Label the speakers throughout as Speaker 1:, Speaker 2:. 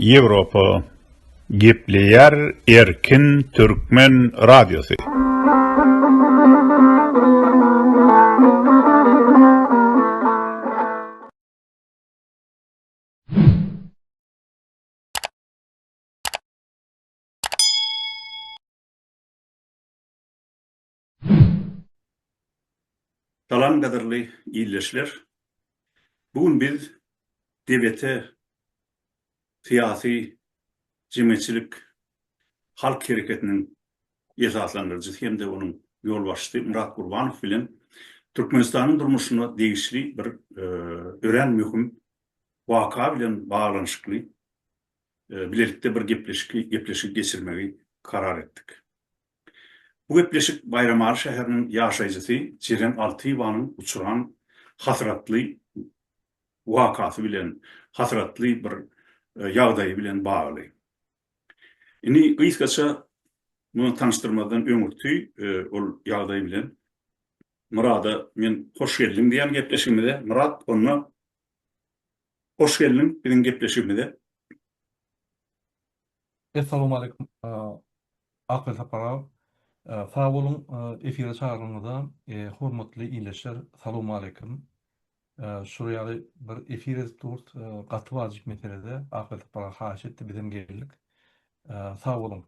Speaker 1: Ýewropa gepleýär erkin türkmen radiosy. Salam gadyrly ildeşler. Bu gün biz DBT syýasy jemgyýetçilik halk hereketiniň esaslandyryjysy hem-de onuň ýolbaşçysy Myrat Gurbanow bilen Türkmenistanyň durmuşyna degişli bir örän möhüm waka bilen baglanyşykly bilelikde bir gepleşik gepleşik geçirmegi karar etdik. Bu gepleşik Baýramaly şäheriniň ýaşaýjysy Jeren Altyýewanyň uçuran hasratly wakasy bilen, hasratly bir ýagdaýy bilen bagly. Indi gysgaça muny tanyşdyrmazdan öňürti ol ýagdaý bilen Myrada men hoş geldiň diýen gepleşigimize Myrat onda hoş geldiň biziň gepleşigimize. Essalamu aleýkum Akyl Saparow. Sag boluň efire çagyranyňyza. Hormatly ildeşler Salawma aleýkum. Şular ýaly bir efir edip durs gaty wajyp meselede Akyl Saparow haýyş etdi bizem geldik. Sag boluň.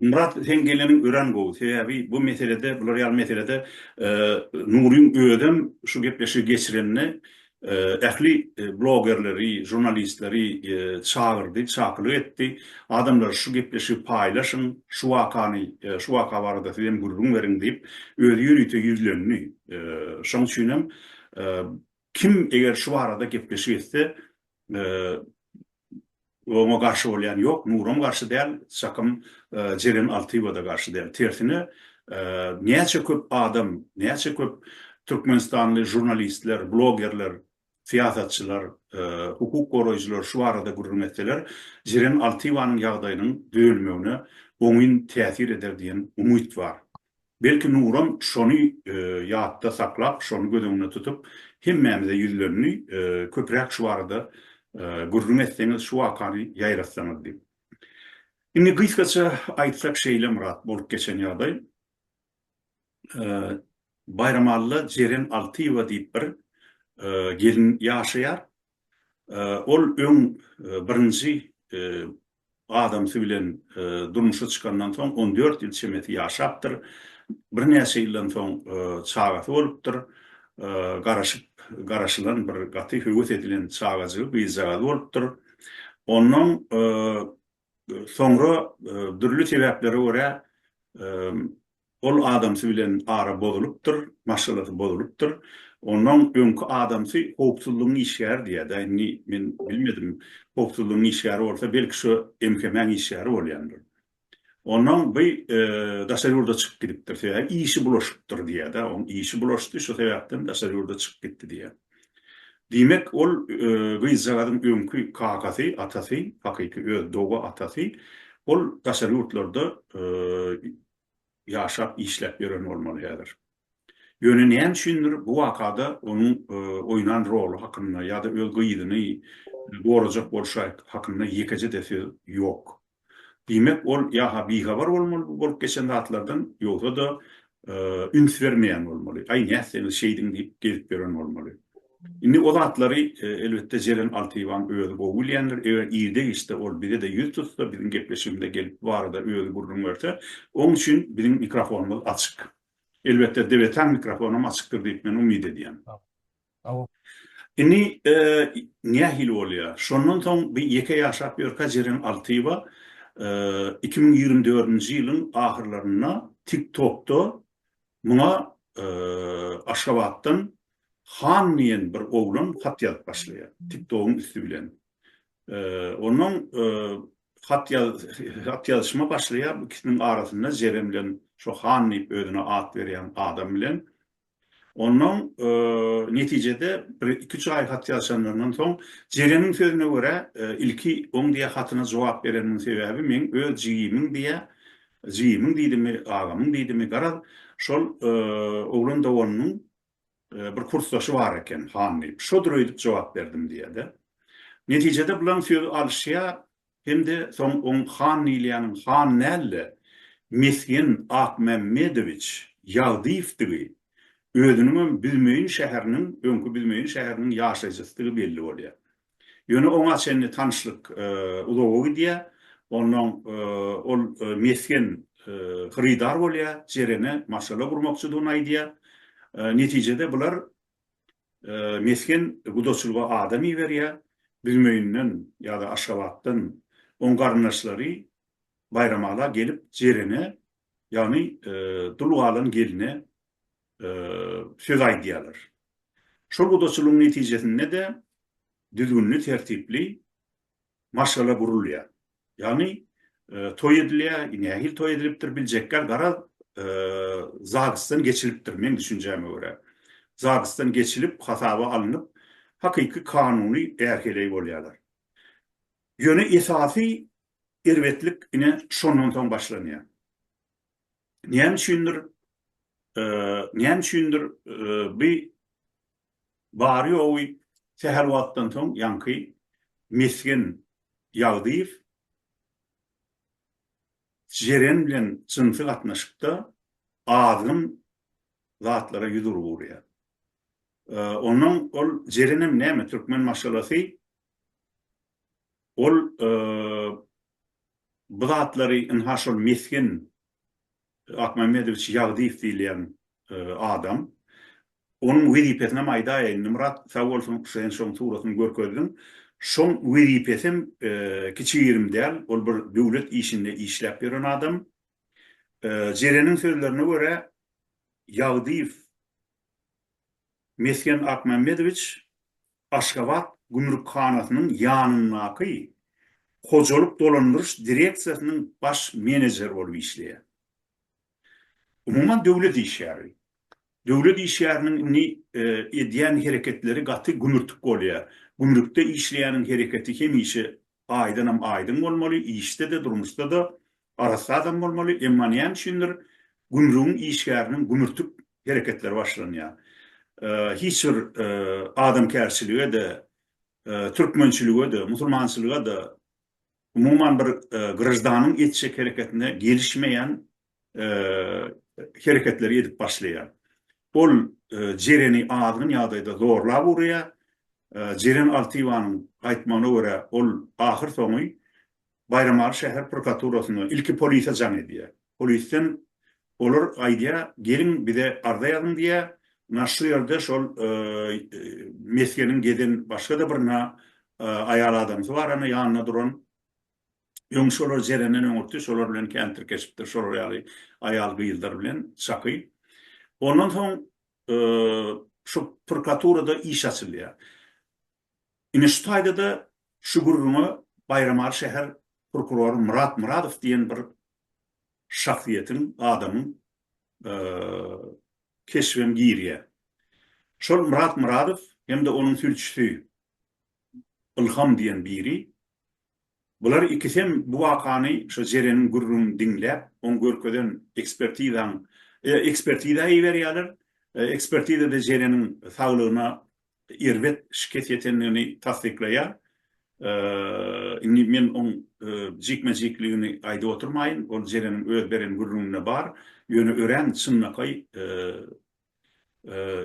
Speaker 1: Myrat seň geleniň örän gowy sebäbi bu meselede bular ýaly meselede Nuryň özem şu gepleşigi geçirenine ähli blogerleri, žurnalistleri çagyrdy, çakylyk etdi, Adamlar şu gepleşigi paýlaşyň, şu wakany, şu waka barada siz hem gürrüň beriň diýip, özi ýörite ýüzlendi. Şoň üçin hem kim eger şu barada gepleşik etse, Oňa garşy bolýan ýok, Nuram garşy däl, çakym Jeren Altyýewa-da garşy däl. Tersine, näçe köp adam, näçe köp türkmenistanly žurnalistler, blogerler, syýasatçylar, hukuk goraýjylar şu barada gürrüň etseler, Jeren Altyýewanyň ýagdaýynyň düzelmegine oňyn täsir eder diýen umyt bar. Belki Nuram şony ýatda saklap, şony göz öňünde tutup, hemmämize ýüzlendi, köpräk şu barada gürrüň etseňiz, şu wakany ýaýratsaňyz diýip. Indi gysgaça aýtsak şeýle Myrat, bolup geçen ýagdaý. Baýramalla Jeren Altyýewa diýip bir gelin ýaşaýar. Ol öň birinji Adamsy bilen durmuşa çykandan soň on dört ýyl çemesi ýaşapdyr. Birnäçe ýyldan soň çagasy bolupdyr. Garaşyp, garaşylan bir gaty höwes edilen çagajygy, gyzjagazy bolupdyr. Ondan soňra dürli sebäplere görä Ol adamsy bilen ara bozulypdyr, maşgalasy bozulypdyr. Ondan öňki adamsy howpsuzlygyň işgäri diýýär-dä, indi men bilmedim, howpsuzlygyň işgäri bolsa, belki şu MHM-iň işgäri bolýandyr. Ondan bu daşary ýurda çykyp gidipdir, sebäbi işi bulaşypdyr diýýär-dä, oň işi bulaşdy, şu sebäpden daşary ýurda çykyp gitdi diýýär. Diýmek, ol gyzjagazyň öňki kakasy, atasy, hakyky öz doga atasy, ol daşary ýurtlarda ýaşap işläp ýören bolmaly häzir. Ýöne näme üçindir bu wakada onuň oýnan roly hakynda ýa-da öz gyzyny gorajak bolşy hakynda ýekeje-de söz ýok. Diýmek ol ýa-ha bihabar bolmaly bu bolup geçen zatlardan ýogsa-da üns bermeýän bolmaly. Aý nätseňiz şeýdiň diýip gezip ýören bolmaly. Indi o zatlary, elbetde, Jeren Altyýewanyň özi gowy bilýändir. Eger irde-giçde ol bize-de ýüz tutsa, biziň gepleşigimize gelip, bu barada özi gürrüň berse, oň üçin biziň mikrofonymyz açyk. Elbetde, Debetäň mikrofony hem açykdyr diýip, men umyt edýän. Indi nähili bolýar? Şondan soň bi ýeke ýaşap ýörkä Jeren Altyýewa iki müň ýigrimi dördünji ýylyň ahyrlarynda TikTok-da Muňa Aşgabatdan Han diýen bir oglan hat ýazyp başlaýar, TikTok-yň üsti bilen. Onuň hat hat ýazyşma başlaýar, bu ikisiniň arasynda Jerem bilen şo Han diýip özüne at berýän adam bilen. Onuň netijede bir iki üç aý hat ýazyşanlaryndan soň Jeremiň sözüne görä, ilki oň diýýär hatyna jogap berenimiň sebäbi men öz jigimiň diýýär, Jigimiň diýdimi, agamyň diýdimi, garaz, şol oglan doganynyň bir kursdaşy bar eken, han diýip, şodur öýdüp jogap berdim diýýär-de. Netijede bularyň sözi alyşýar hem-de soň oň han diýilýäniň han däl-de, Mesgen Akmämmedowiç Ýagdyýewdigi, özüniňem Büzmeýin şäheriniň, öňki Büzmeýin şäheriniň ýaşaýjysydygy belli bolýar. Ýöne oňa çenli tanyşlyk uzaga gidýär. Onnoň ol mesgen hyrydar bolýar, Jerene maşgala gurmakçydygyny aýdýar. Netijede bular mesgen gudaçylyga adam iberýär. Büzmeýinden ýa-da Aşgabatdan oň garyndaşlary baýramala gelip Jerene, ýagny dul galan geline söz aýdýarlar. Şol gudaçylygyň netijesinde-de düzgünli-tertipli maşgala gurulýar. Ýagny toý edilýär, nähili toý edilipdir biljekgär, garaz, zadysdan geçilipdir, meň düşünjäme görä. Zadysdan geçilip, hasaba alnyp, hakyky kanuny är-heleý bolýarlar. Ýöne esasy erbetlik ine şondan soň başlanýar. näme üçindir näme üçindir bu bary ýogy sähel wagtdan soň ýaňky mesgen Ýagdyýew Jeren bilen jynsy gatnaşykda azgyn zatlara ýüz urgurýar. Onnoň ol Jerenem näme türkmen maşgalasy Ol bu zatlary ynha şol mesgen Akmamedowiç Ýagdyýew diýilýän adam. Onuň wezipesinem aýdaýaýyn. Nymrat sag bolsun sen şoň suratyny görkezdiň. Şoň wezipesem kiçi-girim däl. Ol bir döwlet işinde işläp ýören adam. Jereniň sözlerine görä, Ýagdyýew mesgen Akmamedowiç Aşgabat gümrükhanasynyň ýanyndaky hojalyk dolandyryş direksiýasynyň baş menejeri bolup işleýär. Umuman döwlet işgäri. Döwlet işgäriniň indi edýän hereketleri gaty gümürtik bolýar. Gümrükde işleýäniň hereketi hemişe aýdanam aýdyň bolmaly, işde-de, durmuşda-da arassa adam bolmaly, emma näme üçindir, gümrügiň işgäriniň gümürtik hereketleri başlanýar. Hiç bir adamkärçilige-de, türkmençilige-de, musulmançylyga-da, umuman bir graždanyň etjek hereketine gelişmeýän hereketleri edip başlaýar. Ol Jereni azgyn ýagdaýda zorlap urýar. Jeren Altywanyň aýtmagyna görä, ol ahyr soňy Baýramaly şäher prokuraturasyna, ilki polise jaň edýär. Polisden olar aýdýar, geliň bize arza ýazyň diýýär. Na şu ýerde şol mesgeniň geden başga-da bir na aýal adamsy bar, ana ýanynda duran. Öň şolar Jerenden öňürti şolar bilen kän tirkeşipdir, şolar ýaly aýal-gyzlar bilen çaky. Ondan soň şu prkaturada iş açylýar. Ine şu taýda-da şu gürrüňe Baýramaly şäher prokurory Myrat Myradow diýen bir şahsyýetiň, adamyň keşbem girýär. Şol Myrat Myradow hem-de onuň sülçüsi Ylham diýen biri Bular ikisem bu wakany şo Jereniň gürrüňini diňläp, oň görkezen ekspertizaň ekspertiza iberýärler. Ekspertizada Jereniň saglygyna erbet şikes ýetendigini tassyklaýar. Indi men oň jikme-jikligini aýdyp oturmaýyn, ol Jereniň öz beren gürrüňinde bar, ýöne örän çynlakaý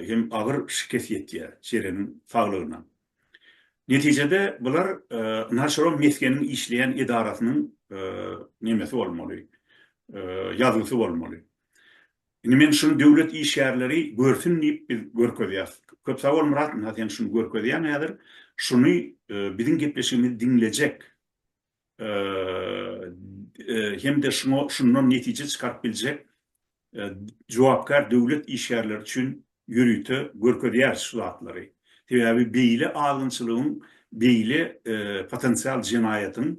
Speaker 1: hem agyr şikes ýetýär Jeremiň saglygyna. Netijede bular naçarom mesgeniň işleýän edarasynyň nemesi bolmaly, ýazgysy bolmaly. Indi men şuny döwlet işgärleri görsün diýip biz görkezýäs. Köp sag bol Myrat, ynha sen şuny görkezýäň häzir. Şuny biziň gepleşigimizi diňlejek hem-de şuňa şundan netije çykaryp biljek jogapkär döwlet işgärleri üçin ýörite görkezýäris şu zatlary. Sebäbi beýle azgynçylygyň, beýle potensial jenaýatyň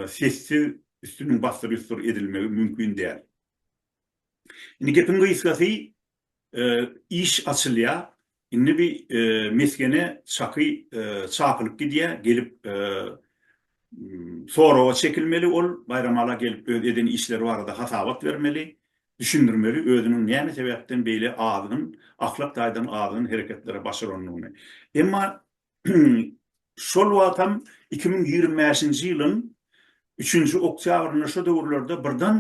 Speaker 1: sessiz üstüniň bassyr-üstur edilmegi mümkin däl. Indi gepiň gysgasy Iş açylýa indi bi mesgene çaky çapylyp gidýä gelip soraga çekilmeli ol Baýramala gelip öz eden işleri barada hasabat bermeli düşündirmeli özüniň näme sebäpden beýle azgyn ahlak taýdan azgyn hereketlere başarandygyny emma şol wagtam iki müň ýigrimi bäşinji ýylyň üçünji oktýabrynda şo döwürlerde birden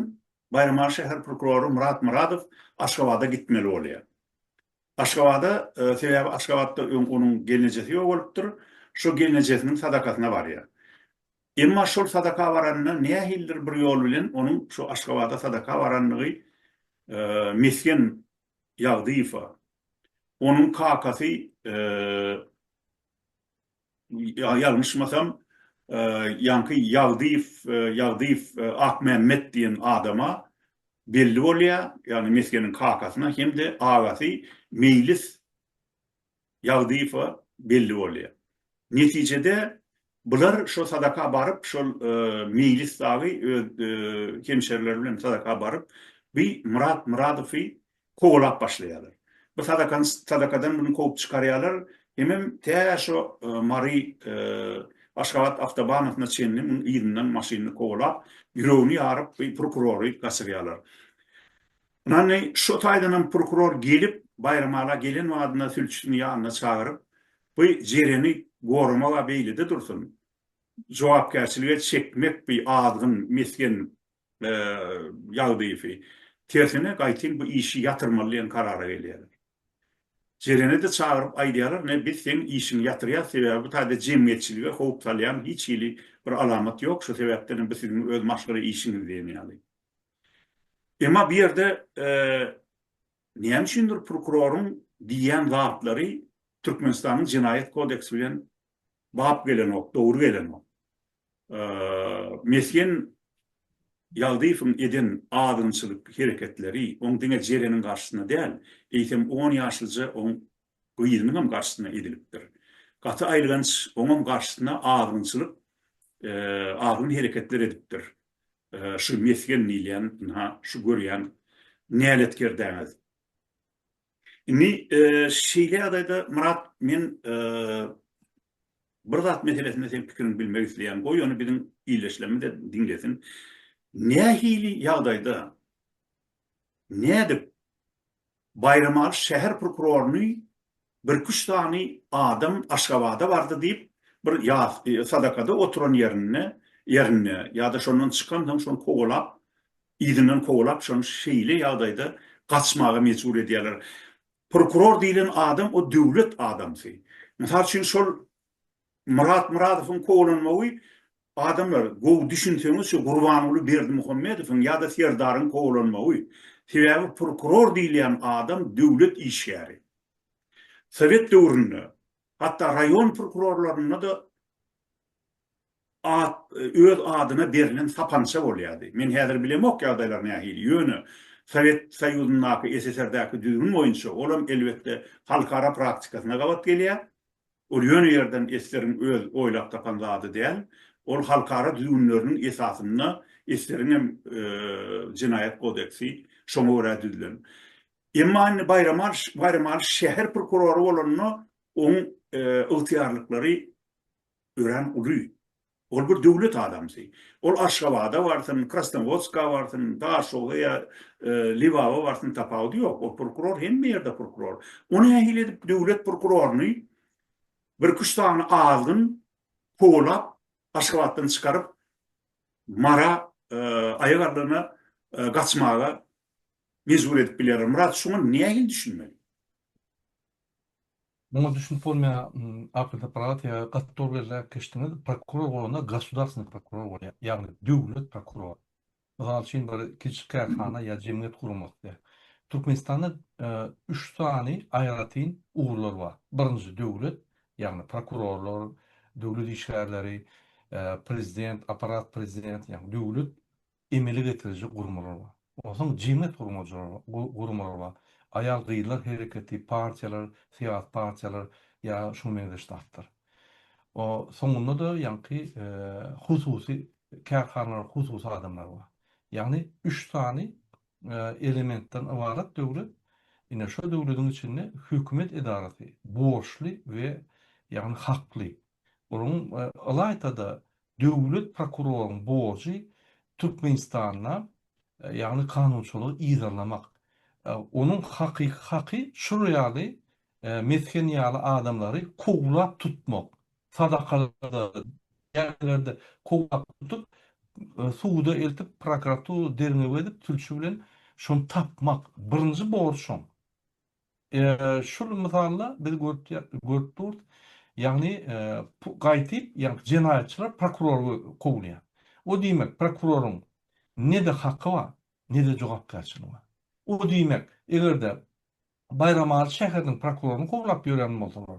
Speaker 1: Baýramaly şäher prokurory Myrat Myradow Aşgabada gitmeli bolýar. Aşgabada, sebäbi Aşgabatda öň onuň gelnejesi ýogalypdyr, şo gelnejesiniň sadakasyna barýar. Emma şol sadaka baranda nähilidir bir ýol bilen onuň şo Aşgabada sadaka barandygy Mesgen Ýagdyýewa, onuň kakasy, Ýalňyşmasam, ýaňky Ýagdyýew, Ýagdyýew Akmämmet diýen adama belli bolýar, ýagny Mesgeniň kakasyna hem-de agasy Meýlis Ýagdyýewe belli bolýar. Netijede, bular şo sadaka baryp, şol Meýlis dagy öz hemşerileri bilen sadaka baryp, bi Myrat Myradowy kowalap başlaýarlar. Bu sadakany sadakadan muny kowup çykarýarlar, hemem tä şo Mary Aşgabat awtobanasyna çenli munuň yzyndan maşynyny kowalap, ýüregini ýaryp bu prokurory gaçyrýarlar. Ynany şo taýdanam prokuror gelip, Baýramala gelen badyna sülçüsini ýanyna çagyryp, bu Jereni goramak-a beýlede dursun, jogapkärçilige çekmek bu azgyn, mesgen Ýagdyýewi. Tersine gaýtyn bu işi ýatyrmaly diýen karara gelýärler. Jeleni-de çagyryp aýdýarlar, ne biz seň işiňi ýatyrýas, sebäbi bu taýda jemgyýetçilige howp salýan hiç hili bir alamat ýok, şu sebäpden hem bu siziň öz maşgala işiňiz diýen ýaly. Emma bu ýerde näme üçindir prokuroryň diýýän zatlary Türkmenistanyň Jenaýat kodeksi bilen bap gelenok, dogry gelenok. Mesgen Ýagdyýewiň eden azgynçylyk hereketleri oň diňe Jereniň garşysyna däl, eýsem on ýaşlyja oň gyzynyň hem garşysyna edilipdir. Gaty aýylganç, oňam garşysyna azgynçylyk, azgyn hereketler edipdir şu Mesgen diýilýän, ynha, şu görýän näletkerdäňiz. Indi şeýle ýagdaýda Myrat men bir zat meselesinde seň pikiriňi bilmek isleýän. Goý ony biziň ildeşlerimiz-de diňlesin. Nähili ýagdaýda nädip Baýramaly şäher prokuroryny birküç sany adam Aşgabada bardy diýip bir ýas sadakada oturan ýerinde ýerinde ýa-da şondan çykansoň şony kowalap Yzyndan kowalap şony şeýle ýagdaýda gaçmaga mejbur edýärler. Prokuror diýlen adam o döwlet adamsy. Mysal üçin şol Myrat Myradowyň kowalanmagy adamlar gowy düşünseňiz şu Gurbanguly Berdimuhamedowyň ýa-da Serdaryň kowalanmagy. Sebäbi prokuror diýilýän adam döwlet işgäri. Sowet döwründe hatda raýon prokurorlarynda-da at öz adyna berlen sapança bolýardy. Men häzir bilemok ýagdaýlar nähili, ýöne Sowet Soýuzyndaky, SSR-däki düzgün boýunça olam elbetde halkara praktikasyna gabat gelýär. Ol ýöne ýerden SSR-iň öz oýlap tapan zady däl. Ol halkara düzgünleriniň esasynda SSR-iň hem Jenaýat kodeksi şoňa görä düzlen. Emma indi Baýramalyş Baýramalyş şäher prokurory bolanda oň ygtyýarlyklary Örän uly. Ol bir döwlet adamsy. Ol Aşgabada barsyn, Krasnowodska barsyn, Daşoga ýa Lebaba barsyn, tapawudy ýok. Ol prokuror, hemme ýerde prokuror. O nähili edip döwlet prokuroryny birküç sany azgyn kowalap, Aşgabatdan çykaryp, Mara aýagaldygyna gaçmaga mejbur edip biler? Myrat, şuňa nähili düşünmeli? Muňa düşünip bolmaýar, akyl aparaty ýa gaty dogry ýerde äkişdiňiz, prokuror bolanda gosudarstwonyý prokuror bolýar, ýagny döwlet prokurory. Mysal üçin bir kiçi kärhana ýa jemgyýet guramasy. Türkmenistanda üç sany aýratyn ugurlar bar. Birinji döwlet, ýagny prokurorlar, döwlet işgärleri, prezident, apparat prezident, ýagny döwlet emele getiriji gurmalar bar. Ondan soň jemgyýet gurmalar bar. Aýal-gyzlar hereketi, partiýalar, syýasy partiýalar ýa şuňa meňzeş zatlar. Soňunda-da ýaňky hususy kärhanalar, hususy adamlar bar. Ýagny üç sany elementden ybarat döwlet. Ine şo döwletiň içinde hökümet edarasy borçly we ýagny hakly. Onuň ylaýta-da döwlet prokuroryň borjy Türkmenistanda, ýagny kanunçylygy yzarlamak. Onuň hakyky haky şular ýaly mesgen ýaly adamlary kowlap tutmak, sadakalarda, dädelerde kowlap tutup, suda eltip, prokuratura derňew edip, sülçi bilen şony tapmak. Birinji borjy şoň. Şul mysalda biz görüp durs, ýagny gaýtyp, ýagny jenaýatçylar prokurory kowulýar. O diýmek, prokuroryň ne-de haky bar, ne-de jogapkärçiligi bar. O diýmek, eger-de Baýramaly şäheriniň prokuroryny kowlap ýörän bolsalar,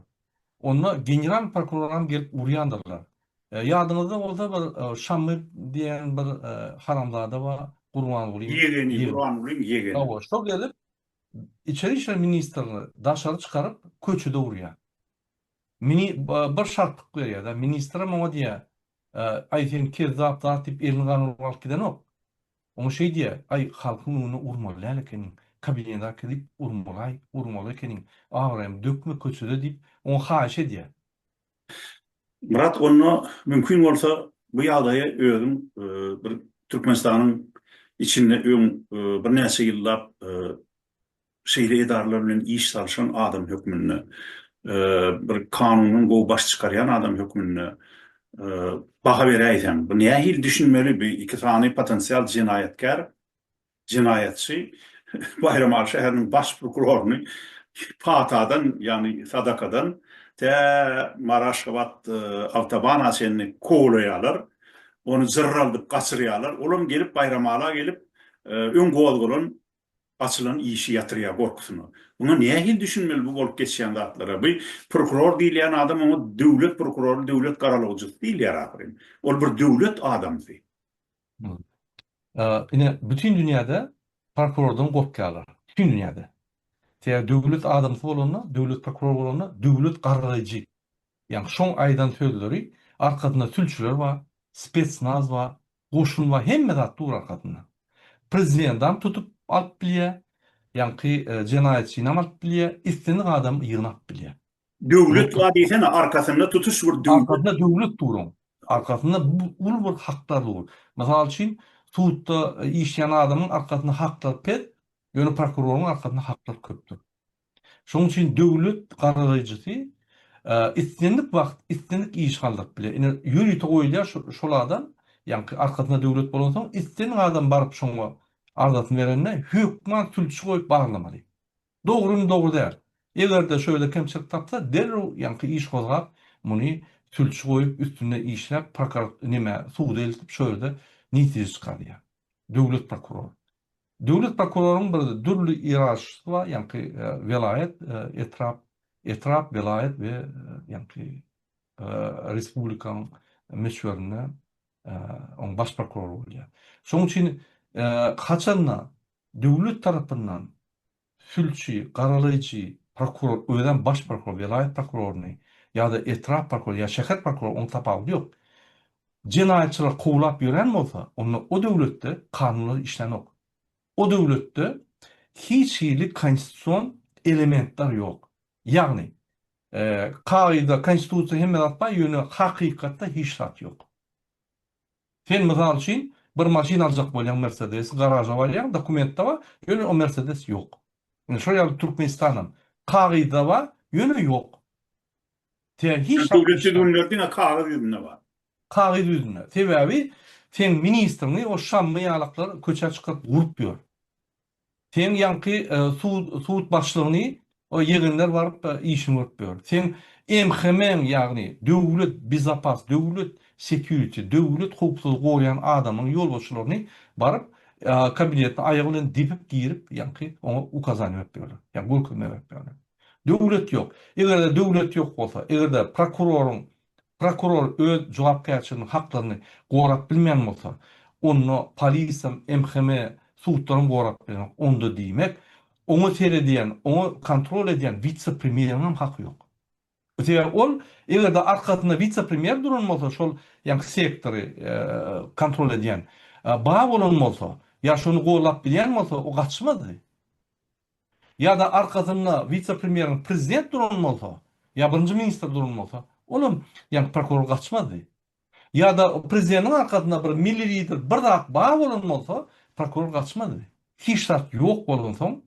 Speaker 1: onda general prokuroram gelip urýandyrlar. Ýadyňyzda bolsa bir Şamy diýen bir haramzada bar, Gurbangulyň ýegeni. Ýegeni, Gurbangulyň ýegeni. Hawa, şo gelip, Içeri işler ministrini daşary çykaryp, köçede urýar. Mini bir şartlyk berýär-de, ministrem oňa diýýär, Aý, sen kezzap zat diýip, elini gaňrygyp alyp gidenok. Oňa şeý diýýär, Aý, halkyň öňünde urmaly däl ekeniň, kabinete äkidip urmaly-aý, urmaly ekeniň, abraýymy dökme köçede diýip, oňa haýyş edýär. Myrat onda mümkin bolsa bu ýagdaýy özüň bir Türkmenistanyň içinde öň birnäçe ýyllap şeýle edaralar bilen iş salyşan adam hökmünde, bir kanundan gowy baş çykarýan adam hökmünde baha beräýseň. Bu nähili düşünmeli bu iki sany potensial jenaýatkär Jenaýatçy Baýramaly şäheriniň baş prokuroryny patadan, ýagny sadakadan tä Mary-Aşgabat awtobana çenli kowlaýarlar. Ony jyrraldyp gaçyrýarlar. Olam gelip Baýramala gelip, öň gozgalan, açylan işi ýatyrýar gorkusyna. Muňa nähili düşünmeli bu bolup geçýän zatlara? Bu prokuror diýilýän adam oňa döwlet prokurory, döwlet garalawjysy diýilýär ahyryn. Ol bir döwlet adamsy. Ine, bütin dünýäde prokurordan gorkýarlar. Bütin dünýäde. Sebäbi döwlet adamsy bolanda, döwlet prokuror bolanda döwlet gargaýjy. Ýagny şoň aýdan sözleri arkasynda sülçüler bar, spetsnaz bar, goşun bar, hemme zat dur arkasynda. Prezidentam tutup alyp bilýär, ýaňky jenaýatçynam alyp bilýär, islendik adamy ýygnap bilýär. Döwlet bar diýsene arkasynda tutuş bir döwlet. Arkasynda döwlet duran. Arkasynda uly bir hakdar dur. Mysal üçin sudda işleýän adamyň arkasynda haklar pes, ýöne prokuroryň arkasynda haklar köpdür. Şonuň üçin döwlet garalaýjysy islendik wagt islendik iş galdyryp biler. Ine ýörite goýulýar şol adam, ýagny arkasynda döwlet bolansoň islendik adam baryp şoňa arzasyny berende hökman sülçi goýup baglamaly. Dogrymy dogry däl. Eger-de şöyle kemçilik tapsa derrew ýaňky iş gozgap muny sülçi goýup üstünde işläp prokar nime suda eltip şo ýerde netije çykarýar. Döwlet prokurory. Döwlet prokuroryň bir dürli ýerarşysy bar ýaňky welaýat etrap etrap welaýat we ýaňky respublikaň möçberinde oň baş prokurory bolýar. Şoň üçin haçanda Döwlet tarapyndan sülçi, garalaýjy, prokuror, özem baş prokuror, welaýat prokuroryny ýa-da etrap prokurory ýa şäher prokurory onuň tapawudy ýok. Jenaýatçylar kowlap ýören bolsa, onda o döwletde kanunlar işlänok. O döwletde hiç hili konstitusion elementler ýok. Ýagny, kagyzda konstitusiýa hemme zat bar, ýöne hakykatda hiç zat ýok. Sen mysal üçin bir maşyn aljak bolýaň mersedesi garaža barýaň dokumentde bar ýöne o mersedes ýok. Ine şol ýaly Türkmenistanam kagyzda bar ýöne ýok. Tä hiç zat Döwlet düzgünleri diňe kagyz ýüzünde bar. Kagyz ýüzünde. Sebäbi seň ministriňi o şammy ýalaklar köçä çykaryp urup ýör. Seň ýaňky sud başlygyny ýegenler baryp işini görüp biler. Seň MHM-iň ýagny döwlet bezapas, döwlet security, döwlet howpsuzlygy goraýan adamyň ýolbaşçylaryny baryp kabinetine aýagy bilen depip girip ýaňky oňa ukazaniýa berip bilerler. Ýagny görkezme berip bilerler. Döwlet ýok. Eger-de döwlet ýok bolsa, eger-de prokuroryň Prokuror öz jogapkärçiliginiň haklaryny gorap bilmeýän bolsa, onda polisiýam, MHM, sudlaram gorap bilenok. Onda diýmek, oňa seredýän, oňa kontrol edýän wise-premýeriňem haky ýok. Sebäbi ol, eger-de arkasynda wise-premýer duran bolsa, şol ýaňky sektory kontrol edýän, bar bolan bolsa, ýa şony gollap bilýän bolsa, o gaçmazdy. ýa-da arkasynda wise-premýeriň prezident duran bolsa, ýa birinji ministr duran bolsa, olam, ýagny prokuror gaçmazdy. Ýa-da prezidentiň arkasynda bir milli lider, bir zat bar bolan bolsa, prokuror gaçmazdy. Hiç zat ýok bolansoň,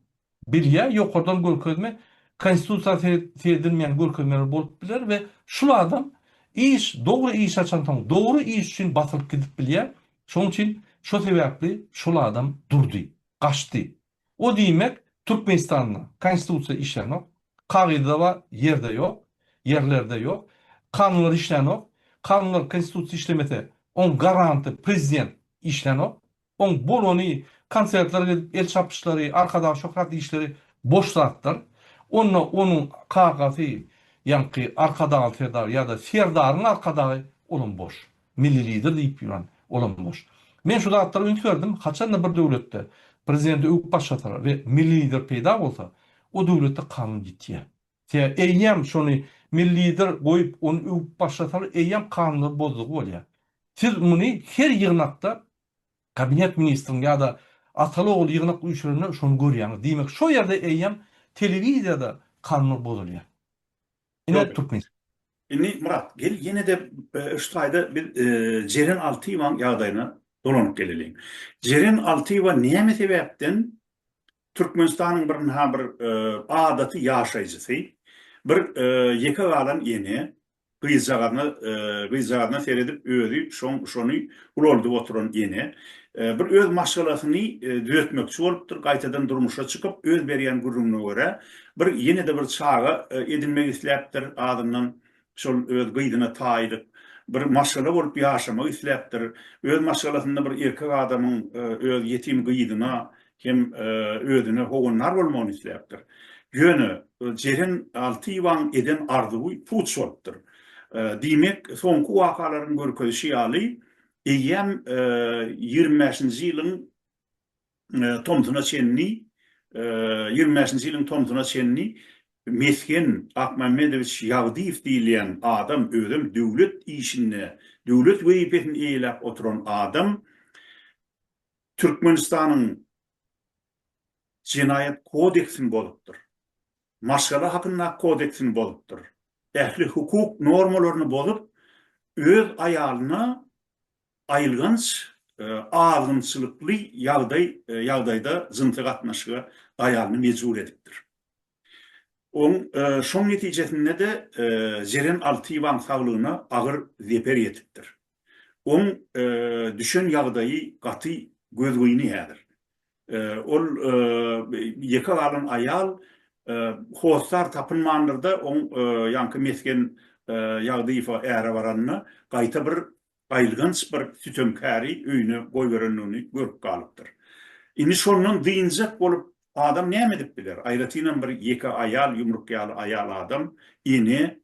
Speaker 1: bilýä, ýokardan görkezme, Konstitusiýa seredilmeýän görkezmeler bolup biler we şul adam iş, dogry iş açansoň, dogry iş üçin basylyp gidip bilýär. Şonuň üçin şo sebäpli şol adam durdy, gaçdy. O diýmek Türkmenistanda konstitusiýa işlänok, kagyzda bar, ýerde ýok, ýerlerde ýok, kanunlar işlänok, kanunlar konstitusiýa işlemese oň garanty prezident işlänok, oň bolany konsertlere gidip el çapyşlary, arkadag şöhrat diýişleri boş zatlar, onda onuň kakasy ýaňky arkadagly serdar ýada serdaryň arkadagy olam boş. Milli Lider diýip ýören, olam boş. Men şu zatlara üns berdim, haçan-da bir döwletde Prezidenti öwüp başlasalar we Milli Lider peýda bolsa, o döwletde kanun ýitýär. Sebäbi eýýäm şony Milli Lider goýup, ony öwüp başlasalar eýýäm kanunlary bozdugy bolýar. Siz muny her ýygnakda Kabinet Ministriniň ýa-da ataly-ogul ýygnak üýşürende şony görýäňiz. Diýmek, şo ýerde eýýäm telewiziýada kanunlar bozulýar. Ine Türkmen. Indi Myrat, gel ýene-de şu taýda biz Jeren Altyýewanyň ýagdaýyna dolanyp geleliň. Jeren Altyýewa näme sebäpden Türkmenistanyň bir ynha bir adaty ýaşaýjysy, bir ýeke galan ene, gyzjagazyna gyzjagazyna seredip özi şony ulaldyp oturan ene, bir öz maşgalasyny düzetmekçi bolupdyr, gaýtadan durmuşa çykyp, öz berýän gürrüňine görä, Bir ýene-de bir çaga edinmek isläpdir, adyndan şol öz gyzyna taýlyk bir maşgala bolup ýaşamak isläpdir. Öz maşgalasynda bir erkek adamyň öz ýetim gyzyna hem özüne howandar bolmagyny isläpdir. Ýöne Jeren Alty Iwaň eden arzuwy puç bolupdyr. Diýmek, soňky wakalaryň görkezişi ýaly, eýýäm ýigrimi bäşinji ýylyň. tomsuna çenli, ýigrimi bäşinji ýylyň tomsuna çenli Mesgen Akmämmedowiç Ýagdyýew diýilýän adam, özem döwlet işinde, döwlet wezipesini eýeläp oturan adam Türkmenistanyň Jenaýat kodeksini bozupdyr, Maşgala hakyndaky kodeksini bozupdyr, ähli hukuk normalaryny bozup, öz aýalyna Aýylganç, azgynçylykly ýagdaý ýagdaýda jynsy gatnaşyga aýalyny mejbur edipdir. Oň şoň netijesinde-de Jeren Altyýewanyň saglygyna agyr zeper ýetipdir. Oň düşen ýagdaýy gaty gözgyny häzir. Ol ýeke galan aýal hossar tapynmandyr-da, oň ýaňky mesgen Ýagdyýewa äre baranda, gaýta bir Gaýylganç bir sütemkäri öýüne goýberendigini görüp galypdyr. Indi şondan dynjak bolup, adam näme edip biler? Aýratynam bir ýeke aýal, ýumruk ýaly aýal adam, ene.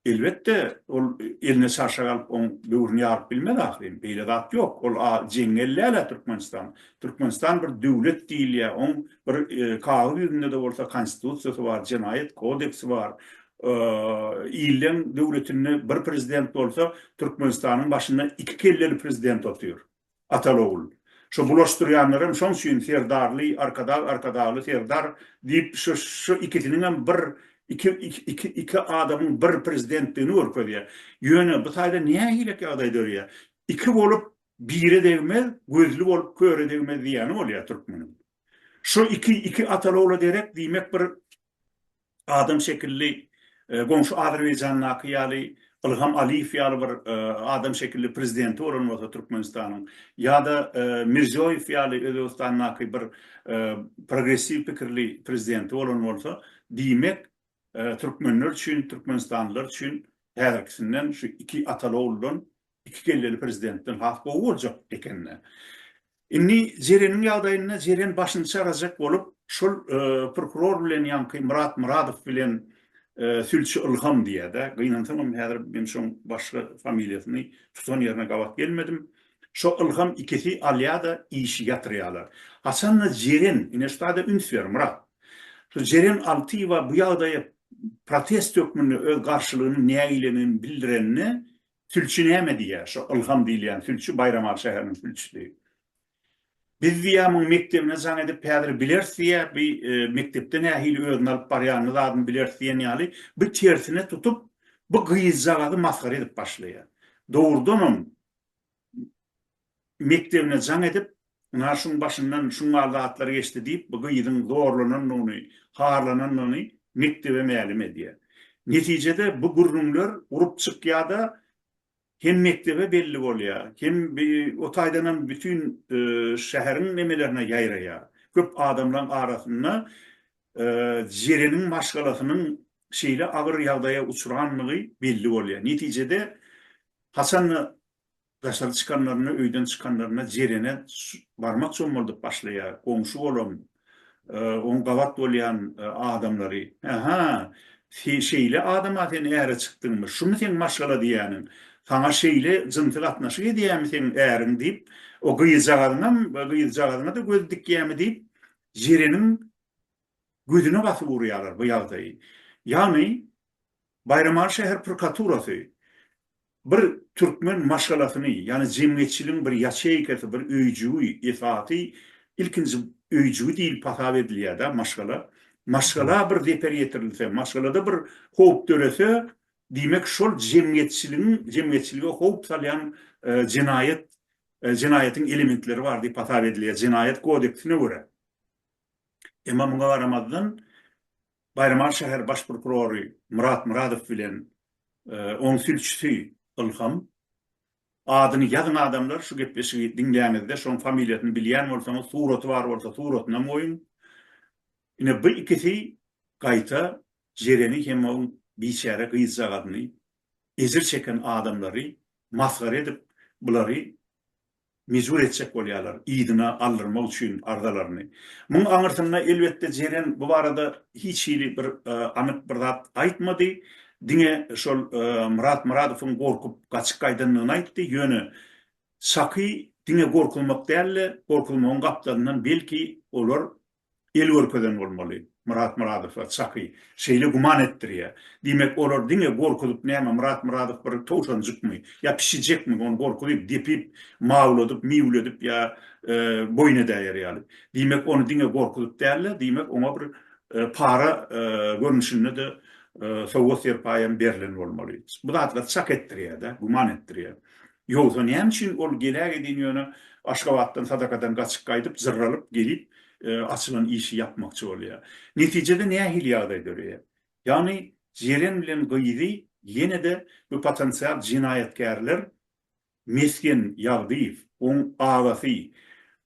Speaker 1: Elbetde, ol eline çarşak alyp, oň böwrüni ýaryp bilmez ahyryn. Beýle zat ýok. Ol a jeň ellälä Türkmenistan. Türkmenistan bir döwlet diýilýär. Oň bir kagyz ýüzünde-de bolsa konstitusiýasy bar, jenaýat kodeksi bar. Illeň döwletinde bir prezident bolsa, Türkmenistanyň başynda iki kelleli prezident otyr. Atal-ogul. Şo bulaşdyrýanlaram şoň üçin Serdarly, Arkadag, Arkadagly, Serdar diýip şu ikisiniňem bir iki iki iki adamyň bir prezidentdigini görkezýär. Ýöne bu taýda nähilek ýagdaý dörýär? Iki bolup bire degmez, gözli bolup köre degmez diýýäni bolýar türkmeniň. Şu iki iki Atal-ogla derek diýmek bir adam şekilli goňşy Azerbaýjandaky ýaly Ilham Aliýew ýaly bir adam şekilli prezidenti bolan bolsa Türkmenistanyň ýa-da Mirziýoýew ýaly Özbegistandaky bir progressiw pikirli prezidenti bolan bolsa diýmek türkmenler üçin türkmenistanlylar üçin häzirkisinden şu iki ataly oguldan Iki kelleli prezidentden has gowy boljak ekeni. Indi Jereniň ýagdaýynda Jeren başyny çarajak bolup, şol prokuror bilen ýaňky Myrat Myradow bilen sülçi Ylham diýýär-dä. Gynansagam häzir men şoň başga familiýasyny tutan ýerine gabat gelmedim. Şo Ylham ikisi alýa-da işi ýatyrýarlar. Haçan-da Jeren, ine şu zada üns ber, Myrat. Şu Jeren Altyýewa bu ýagdaýa protest hökmünde öz garşylygynyň nägileligini bildirenini Sülçi näme diýýär? Şo Ylham diýilýän sülçi Baýramaly şäheriniň sülçüsi. Biz diýýär, muň mekdebine jaň edip häzir bileris diýýär, bi mekdepde nähili özüni alyp barýanyny zadyny bileris diýen ýaly bi tersine tutup bu gyzjagazy masgara edip başlaýar. Dogrudanam, mekdebine jaň edip, Ynha, şuň başyndan şuňňal zatlar geçdi diýip, bu gyzyň zorlanandygyny, harlanandygyny mekdebe mälim edýär. Netijede bu gürrüňler urup çykýar-da, hem mekdebe belli bolýar, hem o taýdanam bütin şäheriň nemelerine ýaýraýar. Köp adamlaryň arasynda Jereniň maşgalasynyň şeýle agyr ýagdaýa uçrandygy belli bolýar. Netijede, haçan-da Daşary çykanlarynda, öýden çykanlarynda Jerene barmak çommaldyp başlaýar. Goňşy bolan, oň gabat bolýan adamlary, Hä-hä, şeýle adam-a sen äre çykdyňmy? Şumy seň maşgala diýýäniň? Saňa şeýle jynsy gatnaşyk edýärmi seň äriň? diýip, o gyzjagazyňam, gyzjagazyňa-da göz dikýärmi diýip, Jereniň gözüne basyp urýarlar bu ýagdaýy. Ýagny, Baýramaly şäher prkaturasy Bir türkmen maşgalasyny, ýagny jemgyýetçiligiň bir ýaçeýkasy, bir öýjügi, esasy ilkinji öýjügi diýlip hasap edilýär-dä maşgala. Maşgala bir zeper ýetirilse, maşgalada bir howp dörese, diýmek şol jemgyýetçiligiň, jemgyýetçilige howp salýan jenaýat, jenaýatyň elementleri bar diýip hasap edilýär, Jenaýat kodeksine görä. Emma muňa garamazdan, Baýramaly şäher baş prokurory Myrat Myradow bilen oň sülçüsi Ylham adyny ýazyň adamlar şu gepleşigi diňläňizde şoň familiýasyny bilýän bolsaňyz suraty bar bolsa suratynam goýuň ine bu ikisi gaýta Jereni hem oň biçäre gyzjagazyny ejir çeken adamlary masgara edip bulary mejbur etjek bolýarlar, yzyna aldyrmak üçin arzalaryny. Muň aňyrsynda, elbetde, jeren bu barada hiç hili bir anyk bir zat aýtmady, diňe şol Myrat Myradowyň gorkup gaçyp gaýdandygyny aýtdy, ýöne Şaky diňe gorkuzmak däl-de, gorkuzmagyň gapdalyndan belki olar el görkezen bolmaly, Myrat Myradowlar, çaky, şeýle güman etdirýär. Diýmek, olar diňe gorkuzyp, näme, Myrat Myradow bir towşanjykmy, ýa pişijekmi, ony gorkuzyp, depip, mawladyp, miwledip ýa boýun edäýer ýaly. Diýmek, ony diňe gorkuzyp däl-de, diýmek, oňa bir para görnüşinde-de sowgat-serpaýam berlen bolmaly. Bu zatlar çak etdirýär-dä, güman etdirýär. Ýogsa näme üçin ol geläg edin ýöne Aşgabatdan sadakadan gaçyp gaýdyp jyrralyp gelip açylan işi ýapmakçy bolýa. Netijede nähili ýagdaý döreýä. Ýagny Jeren bilen gyzy ýenede bu potensial jenaýatkärler Mesgen Ýagdyýew, oň agasy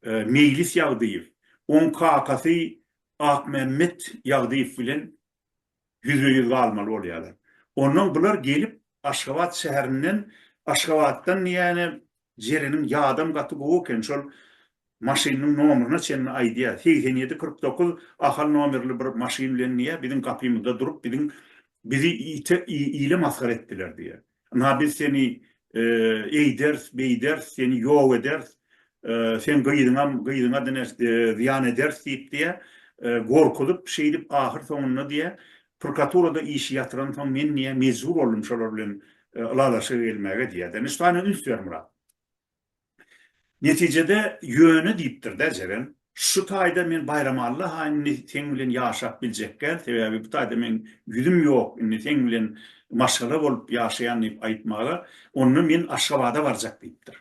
Speaker 1: Meýlis Ýagdyýew, oň kakasy Akmämmet Ýagdyýew bilen ýüzbe-ýüz galmaly bolýarlar. Onnoň bular gelip Aşgabat şäherinden, Aşgabatdan diýýäni Jereniň ýadam gaty gowy eken, şol maşynynyň nomeryna çenli aýdýar, segsen ýedi kyrk dokuz Ahal nomerli bir maşyn bilen diýýär, biziň gapymyzda durup biziň bizi ite ile masgara etdiler diýýär. Ynha, biz seni eýderis, beýderis, seni ýok ederis, seň gyzyňam, gyzyňa diňe zyýan ederis diýip, diýýär, gorkuzyp, şeýdip, ahyr soňunda, diýýär, prkaturada işi ýatyransoň, men, diýýär, mejbur boldum şolar bilen ylalaşyga gelmäge, diýýär-de. Nişdana üns ber, Myrat! Netijede, Ýöne diýipdir-dä Jeren, Şu taýda men Baýramalla ha indi seň bilen ýaşap biljekgän, sebäbi bu taýda meň ýüzüm ýok, indi seň bilen maşgala bolup ýaşaýan diýip aýtmaly, onda men Aşgabada barjak diýipdir.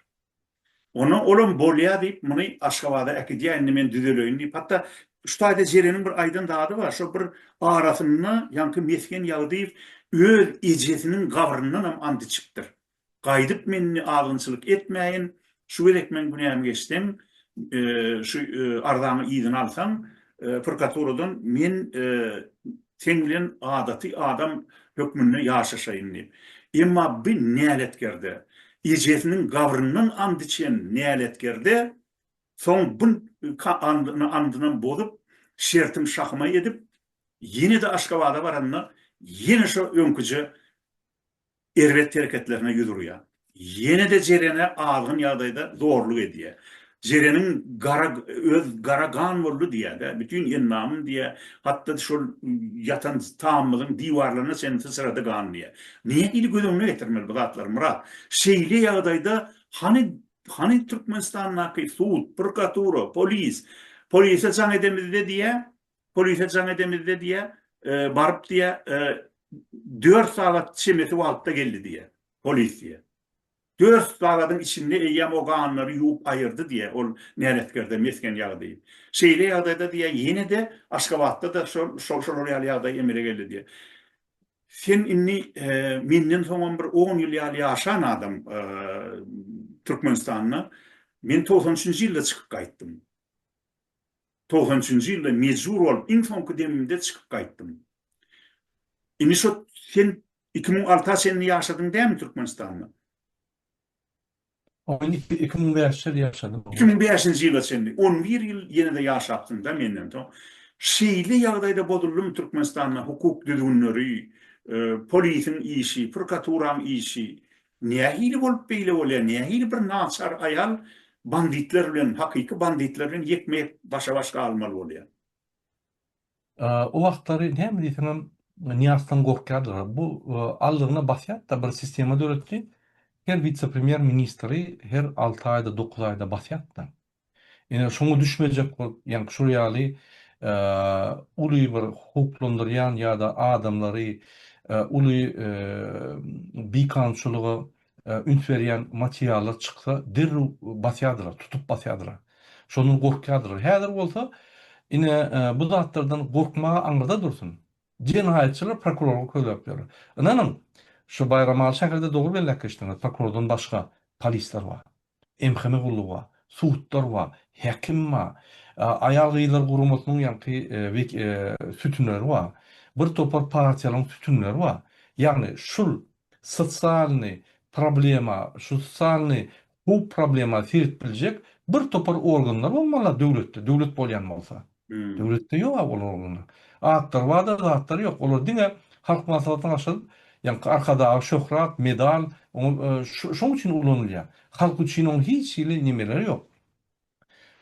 Speaker 1: Ondan olam Bolýa diýip, muny Aşgabada äkidýär, indi men düzeleýin diýip. Hatda şu taýda Jereniň bir aýdan zady bar, şo bir arasynda ýaňky Mesgen Ýagdyýew öz ejesiniň gabryndanam and içipdir. Gaýdyp menni azgynçylyk etmäýin, şu gezek meň günämi geçseň, şu arzaňy yzyna alsaň, prokaturadan men seň bilen adaty adam hökmünde ýaşaşaýyn diýip. Emma bi näletkerde, ejesiniň gabryndan and içen näletkerde, soň bu andynam bozup, şertim şahyma edip, ýene-de Aşgabada baranda, ýene şo öňküje erbet hereketlerine ýüz urýar. Ýene-de Jerene azgyn ýagdaýda zorluk edýär. Jereniň gara öz gara gan boldy diýýär-de, bütin endamym diýýär, hatda şol ýatan tamymyzyň diwarlaryna çenli syçrady gan diýýär. Nähili göz öňüne getirmeli bu zatlary, Myrat? Şeýle ýagdaýda hany hany Türkmenistandaky sud, prokuratura, polis? Polise jaň edemizde diýýär, polise jaň edemizde diýä, e, baryp diýä, e, 4 sagat çemesi wagtda geldi diýä, polis diýä. 4 sagadyň içinde eýýäm o ganlary ýuwup aýyrdy diýä, ol näletkerde mesgen ýagdy. Şeýle ýagdaýda diýä, ýene-de Aşgabatda da şol şol şol ýaly ýagdaý emele geldi diýä. Sen indi e, menden soňam bir 10 ýyl ýaly ýaşan adam e, Türkmenistanda. Men 93-nji ýylda çykyp gaýtdym. Togsan üçünji ýylda mejbur bolup iň soňky demimde çykyp gaýtdym. Indi şo sen iki müň alta çenli ýaşadyň dämi Türkmenistanda? On iki iki müň bäş ýyl ýaşadym. Iki müň bäşinji ýyla çenli. On bir ýyl ýene-de ýaşapsyňda menden soň. Şeýle ýagdaýda bozuldymy Türkmenistanda hukuk düzgünleri, polisiň işi, prokaturaň işi, Nähili bolup beýle bolýar, nähili bir naçar aýal banditler bilen, hakyky banditler bilen ýekme-ýek başa-baş galmaly bolýar? O wagtlary näme diýseňem Nyýazdan gorkýardylar. Bu aldygyna basýardy-da, bir sistema döretdi. Her wise-premýer ministri her alty aýda, dokuz aýda basýardy-da. Ine, şoňa düşmejek bolup, ýaňky şol ýaly uly bir howplandyrýan ýa-da adamlary uly bikanunçylyga üns berýän materiallar çyksa, derrew basýardylar, tutup basýardylar. Şondan gorkýardylar. Häzir bolsa, ine, bu zatlardan gorkmagy aňyrda dursun, jenaýatçylar prokurora köläp ýörler. Ynanyň, şu Baýramaly şäherinde dogry belläp geçdiňiz, prokurordan başga polisler bar. MHM gullugy bar, sudlar bar, häkim bar, aýal-gyzlar guramasynyň ýaňky sütünleri bar, bir topar partiýalaryň sütünleri bar. Ýagny şul sosialny problema, şu sosialny howp problema seredip biljek bir topar organlar bolmaly döwletde, döwlet bolýan bolsa. Hmm. Döwletde ýok a olar ogluna. Atlary barda zatlary ýok. Olar diňe halk maslahatyna başlady. Ýa arkadag şöhrat, medal, oňa e, şu- şoň üçin ulanylýar. Halk üçin oň hiç hili nemeleri ýok.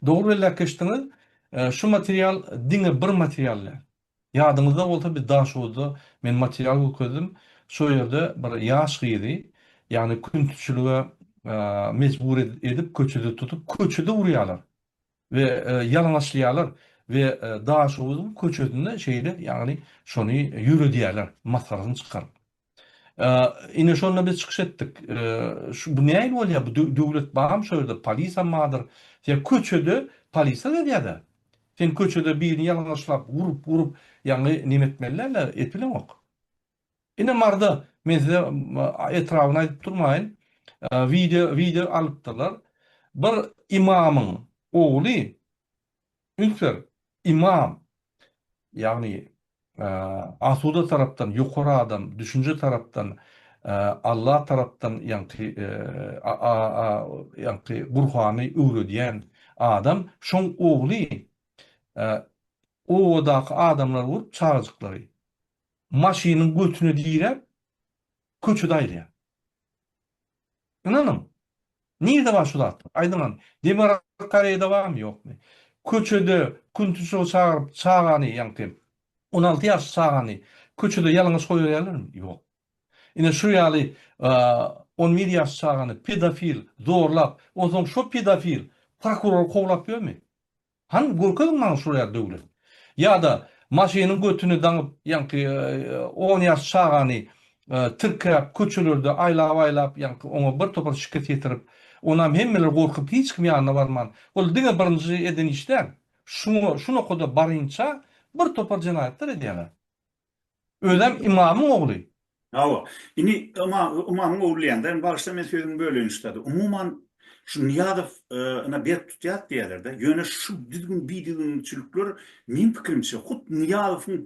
Speaker 1: Dogry belläp geçdiňiz. E, Şu material diňe bir material däl. Ýadyňyzda bolsa biz Daşoguzda men material görkezdim. Şol ýerde bir ýaş gyzy, ýagny küntiçilige e, mejbur ed- edip köçede tutup, köçede urýarlar. We ýalaňaçlaýarlar we Daşoguzyň köçesinde şeýle, ýagny şony ýöredýärler, masgarasyny çykaryp. Ine şonda biz çykyş etdik. Bu nähili bolýar, bu döwlet barmy şu ýerde, polisam bardyr. Sen köçede polisa gezýär-dä. Sen köçede birini ýalaňaçlap, urup, urup, ýagny neme etmeli däldir, et bileňok. Ine marda men size etrabyny aýdyp durmaýyn wideo wideo alypdyrlar bir ymamyň ogly üns ber ymam ýagny asuda tarapdan ýokary adam düşünje tarapdan Allah tarapdan ýaňky ýaňky gurhany öwredýän adam şoň ogly obadaky adamlary urup çagajyklary Maşynyň götüne diräp, köçede aýlaýar. Ynanyň, nirde bar şu zatlar? Aýdyňam, Demirgazyk Koreýada barmy, ýokmy? Köçede Küntüşowy çagyryp, çagany, ýaňky on alty ýaşly çagany köçede ýalaňaç goýberýärlermi? Ýok. Ine, şu ýaly on bir ýaşly çagany pedofil zorlap, onsoň şo pedofil prokuror kowlap ýörmi? Hany görkeziň maňa şol ýa döwlet. Ýa-da maşynyň götüni daňyp ýaňky on ýaş çagany tirkäp köçelerde aýlap-aýlap ýaňky oňa bir topar şikes ýetirip onam hemmeler gorkup hiç kim ýanyna barman ol diňe birinji eden iş däl şuňa şu nokada barynça bir topar jenaýatlar edýäler. Özem ymamyň ogly. Hawa. Indi ymamyň ogly diýende, bagyşla men sözümi böleýin ştada. Umuman, şu Nyýazow yna berk tutýark diýýärler-dä. Ýöne şu düzgün-bidiginçilikler meň pikirimçe hut Nyýazowyň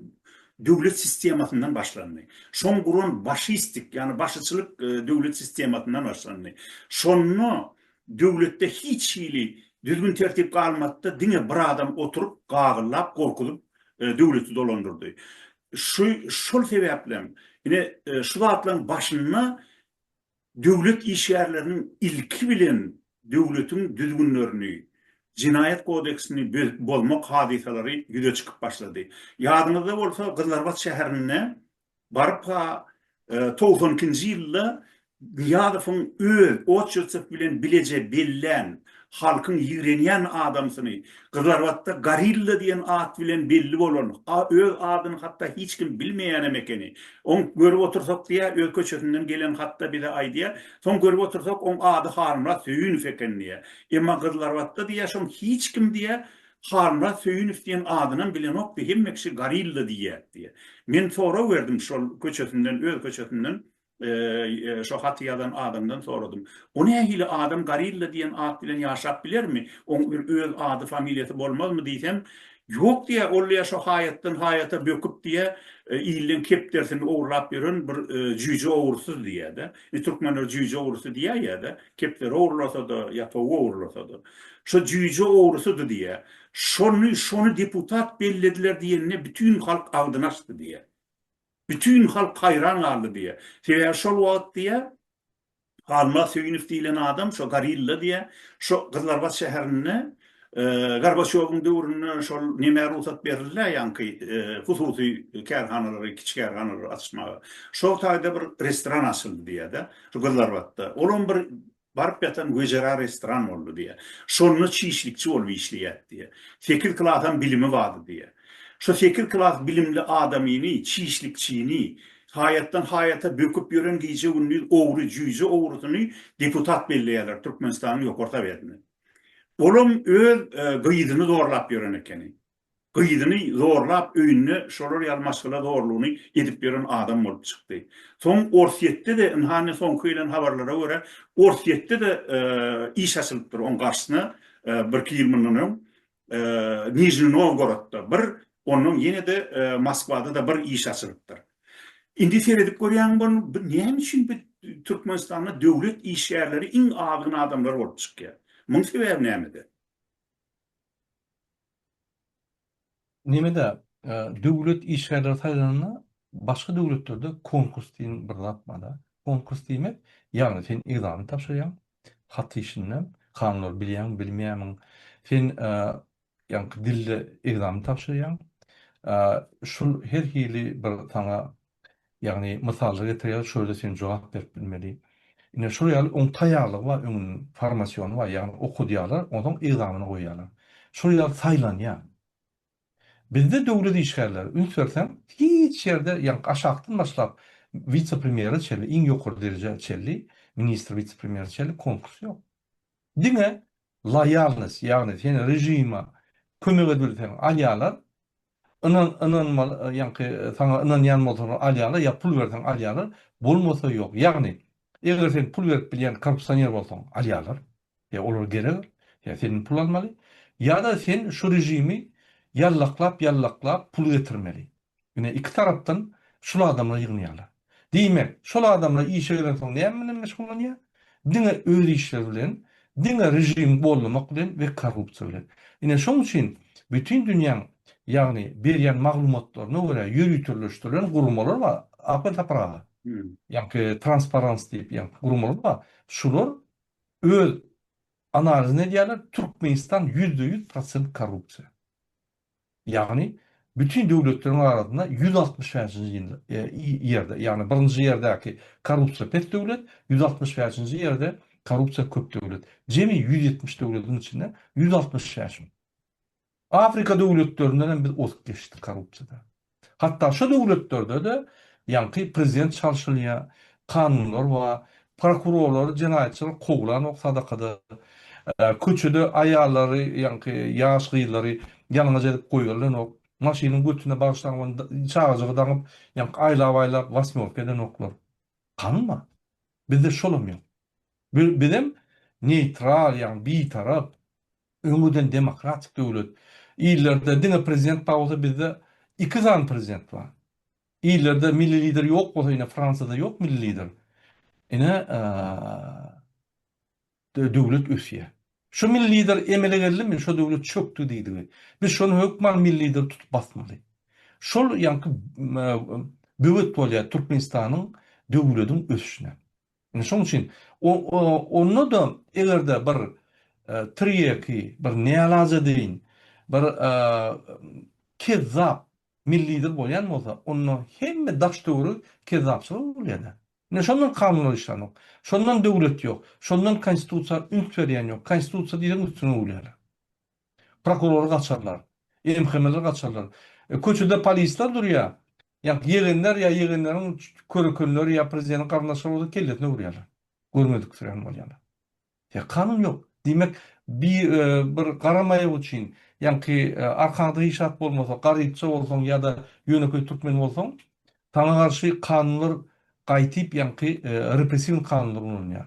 Speaker 1: döwlet sistemasyndan başlandy. Şoň guran başistik, ýagny başyçylyk döwlet sistemasyndan başlandy. Şonda Döwletde hiç hili düzgün tertip galmady-da diňe bir adam oturyp gagyllap gorkuzyp döwleti dolandyrdy. Şu şol sebäplem ine şu zatlaryň başynda döwlet işgärleriniň ilki bilen döwletiň düzgünlerini Jenaýat kodeksini bozmak hadysalary ýüze çykyp başlady. Ýadyňyzda bolsa Gyzlarbat şäherinde Barpa togsan ikinji ýylda Nyýazowyň öz oçertsow bilen bileje bellän, halkyň ýigrenýän adamsyny, Gyzlarbatda Gorilla diýen at bilen belli bolan, a öz adyny hatda hiç kim bilmeýänem ekeni. Oň görüp otursak diýýä, öz köçesinden gelen hatda bize aýdýa, soň görüp otursak oň ady Halmyrat Söýünow eken diýýä. Emma Gyzlarbatda diýýä şoň hiç kim diýýä Halmyrat Söýünow diýen adynam bilenokdy, hemme kişi Gorilla diýýärdi diýýär. Men sorag berdim şol köçesinden, öz köçesinden şo haty ýazan adamdan soradym. O nähili adam Gorilla diýen at bilen ýaşap bilermi? Oň bir öz ady, familiýasy bolmazmy diýsem, Ýok diýýär, ol diýýär şo haýatdan haýata böküp diýýär, ilden kepderisini ogurlap ýören bir jüýje ogursyz diýýär-de. Biz türkmenler jüýje ogrusy diýýär ýa-da kepderi ogurlasa-da, ýapagy ogurlasa-da. Şo jüýje ogrusydy diýýär. Şony, şony deputat bellediler diýende bütin halk agzyny açdy diýýär. Bütin halk haýran galdy diýýär. Sebäbi şol wagt diýýär, Halmyrat Söýünow diýlen adam şo gorilla diýýär, şo Gyzlarbat şäherinde Gorbaçýowyň döwründe şol nemä rugsat berildi-ä ýaňky hususy kärhanalary, kiçi kärhanalary açmaga? Şo taýda bir restoran açyldy diýýär-de, şu Gyzlarbatda. Olam bir baryp ýatan wejera restoran boldy diýýär. Şonda çişlikçi bolup işleýärdi diýýär. Sekiz klasam bilimi bardy diýýär. Şo sekiz klas bilimli adamyny, çişlikçini, haýatdan haýata böküp ýören gije-gündiz ogry, jüýje ogrusyny deputat belleýärler Türkmenistanyň Ýokary Sowetinde. Olam öz gyzyny zorlap ýören ekeni. Gyzyny zorlap öýünde şolar ýaly maşgala zorlugyny edip ýören adam bolup çykdy. Soň Orsýetde-de ynha indi soňky gelen habarlara görä Orsýetde-de iş açylypdyr oň garşysyna birki ýyl mundan öň. Nijni Nowgorodda bir, ondan ýene-de Moskwada-da bir iş açylypdyr. Indi seredip görýäňmi bolny, bu näme üçin bu Türkmenistanda döwlet işgärleri iň azgyn adamlar bolup çykýar? Muň sebäbi nämede? Nemede, döwlet işgärleri saýlananda başga döwletlerde konkurs diýen bir zat bar-da. Konkurs diýmek, ýagny sen ekzamen tabşyrýaň, hat işinde. Kanunlary bilýäňmi, bilmeýämiň. Sen ýaňky dilde ekzamen tabşyrýaň. Şol her hili bir saňa, ýagny mysallar getirýär, şoýada sen jogap berip bilmeli. Ine, şol ýaly oň taýýarlygy bar, öňüň formasiony bar, ýagny okadýarlar, onsoň ekzameni goýýarlar. Şol ýaly saýlanýar. Bizde döwlet işgärleri, üns berseň, hiç ýerde, ýagny aşakdan başlap, wise-premýere çenli, iň ýokary derejä çenli, ministr, wise-premýere çenli konkurs ýok. Diňe loýalnost, ýagny seni režime kömek edilseň alýarlar, ynan-ynanmaly, ýagny saňa ynanýan bolsalar alýarlar ýa pul berseň alýarlar, bolmasa ýok. Ýagny, eger sen pul berip bilýän korrupsioner bolsaň, alýarlar. Ýa olar gerek, ýa senden pul almaly, ýa-da sen şu režimi ýallaklap-ýallaklap pul getirmeli. Ine, iki tarapdan şul adamlar ýygnýarlar. Diýmek, şol adamlar işe gelensoň näme bilen meşgullanýar? Diňe öz işleri bilen, diňe režimi gollamak bilen we korrupsiýa bilen. Ine, şoň üçin bütin dünýäň, ýagny berýän maglumatlaryna görä ýöriteleşdirilen guramalar bar, Ahmet Sapar aga. Ýaňky transparans diýip ýaňky guramalar bar. Şular Öz analizini edýärler, Türkmenistan ýüzde ýüz prosent korrupsiýa. Ýagny bütin döwletleriň arasynda ýüz altmyş bäşinji ýerde, ýagny birinji ýerdäki korrupsiýa pes döwlet, ýüz altmyş bäşinji ýerde korrupsiýa köp döwlet. Jemi ýüz ýetmiş döwletiň içinde ýüz altmyş bäşiň. Afrika döwletlerinden hem biz ozup geçdik korrupsiýada. Hatda şo döwletlerde-de ýaňky prezident çalşylýar, kanunlar bar, prokurorlary jenaýatçylar kowlanok sadakada, köçede aýallary ýaňky ýaş gyzlary ýalňyz edip goýberlenok, maşynyň götüne bagyşlaňman çagajygy daňyp ýaňky aýlap-aýlap wasmýorka edenoklar. Kanun bar. Bizde şolam ýok. Bizem neýtral ýagny bitarap Öňüden demokratik döwlet. Illerde diňe prezident bar bolsa bizde iki sany prezident bar. Illerde milli lider ýok bolsa ine Fransiýada ýok milli lider. Ine döwlet ösýär. Şu milli lider emele geldimi şo döwlet çökdi diýdigi. Biz şony hökman milli lideri tutup basmaly. Şol ýaňky böwet bolýar Türkmenistanyň döwlediň ösüşine. Indi şonuň üçin onda-da eger-de bir tirýeki, bir nälaja deýin, bir kezzap millidir bolýan bolsa, onda hemme daş-töweri kezzapçylyga öwrülýär-dä. Ine şondan kanunlar işlänok. Şondan döwlet ýok. Şondan Konstitusiýa üns berýän ýok. Konstitusiýa diýseň üstüne öwülýärler. Prokurory gaçarlar. MHM-leri gaçarlar. Köçede polisler durýa. Ýa ýegenler ýa ýegenleriň körekenleri ýa prezideniň garyndaşlary bolsa kellesine urýalar. Görmedik sürän bolýalar. Ýa kanun ýok. Diýmek bi bir gara maýak üçin ýaňky arkaňda hiç zat bolmasa garypça bolsaň ýa-da ýönekeý türkmen bolsaň saňa garşy kanunlar gaýtyp ýaňky repressiwny kanunlar ulanýar.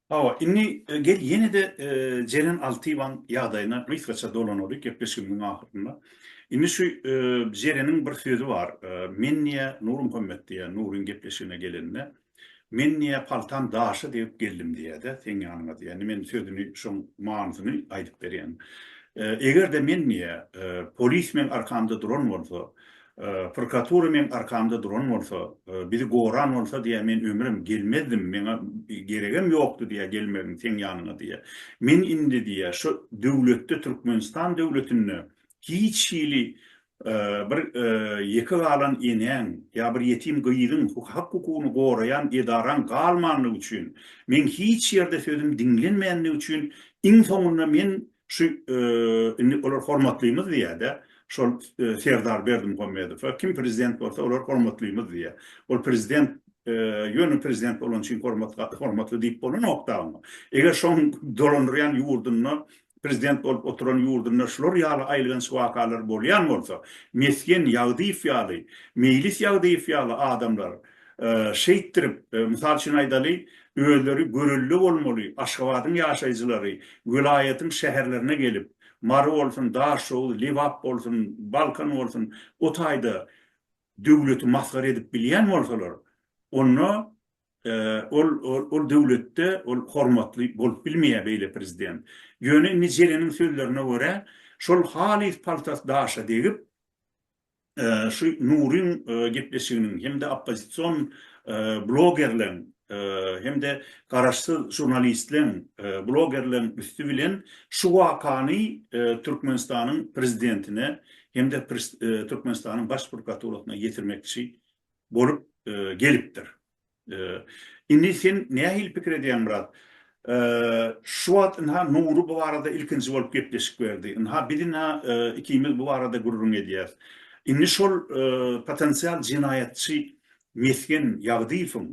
Speaker 1: Hawa, indi gel ýene-de Jeren Altyýewaň ýagdaýyna gysgaça dolanalyk gepleşigimiziň ahyrynda. Indi şu Jereniň bir sözi bar. Men niýe Nurmuhammet diýýär Nuryň gepleşigine gelende. Men niýe paltam daşa degip geldim diýýär-de seň ýanyňa diýýär. Indi men sözüni şoň manysyny aýdyp berýän. Eger-de men diýýär polismen arkamda duran bolsa, Prokuratura meň arkamda duran bolsa, bizi goran bolsa diýýär, men ömrem gelmezdim, meňa geregem ýokdy diýýär gelmegiň seň ýanyňa diýýär. Men indi diýýär, şu döwletde, Türkmenistan döwletinde hiç hili bir ýeke galan enäň ýa bir ýetim gyzyň hak-hukugyny goraýan edaraň galmanlygy üçin, meň hiç ýerde sözüm diňlenmändigi üçin iň soňunda men Şu indi olar hormatlymyz diýýä-dä, şol Serdar Berdimuhamedowa, kim prezident bolsa olar hormatlymyz diýýä. Ol prezident ýöne prezident bolany üçin hormatly diýip bolanok-da oňa. Eger şoň dolandyrýan ýurdunda, prezident bolup oturan ýurdunda şular ýaly aýylganç wakalar bolýan bolsa, Mesgen Ýagdyýew ýaly, Meýlis Ýagdyýew ýaly adamlar Şeýtdirip, mysal üçin aýdaly, özleri görelde bolmaly Aşgabadyň ýaşaýjylary welaýatyň şäherlerine gelip, Mary bolsun, Daşoguz, Lebap bolsun, Balkan bolsun, o taýda döwleti masgara edip bilýän bolsalar, onda ol ol döwletde ol hormatly bolup bilmeýär beýle prezident. Ýöne indi Jeleniň sözlerine görä, şol halys paltasy daşa degip, şu Nuryň gepleşiginiň hem-de oppozision blogerleň hem-de garaşsyz žurnalistleň, blogerleň üsti bilen şu wakany Türkmenistanyň Prezidentine hem-de Türkmenistanyň Baş prokuraturasyna ýetirmekçi bolup gelipdir. Indi sen nähili pikir edýäň, Myrat? Şu wagt ynha Nury bu barada ilkinji bolup gepleşik berdi. Ynha biz ynha ikimiz bu barada gürrüň edýäs. Indi şol potensial jenaýatçy Mesgen Ýagdyýewiň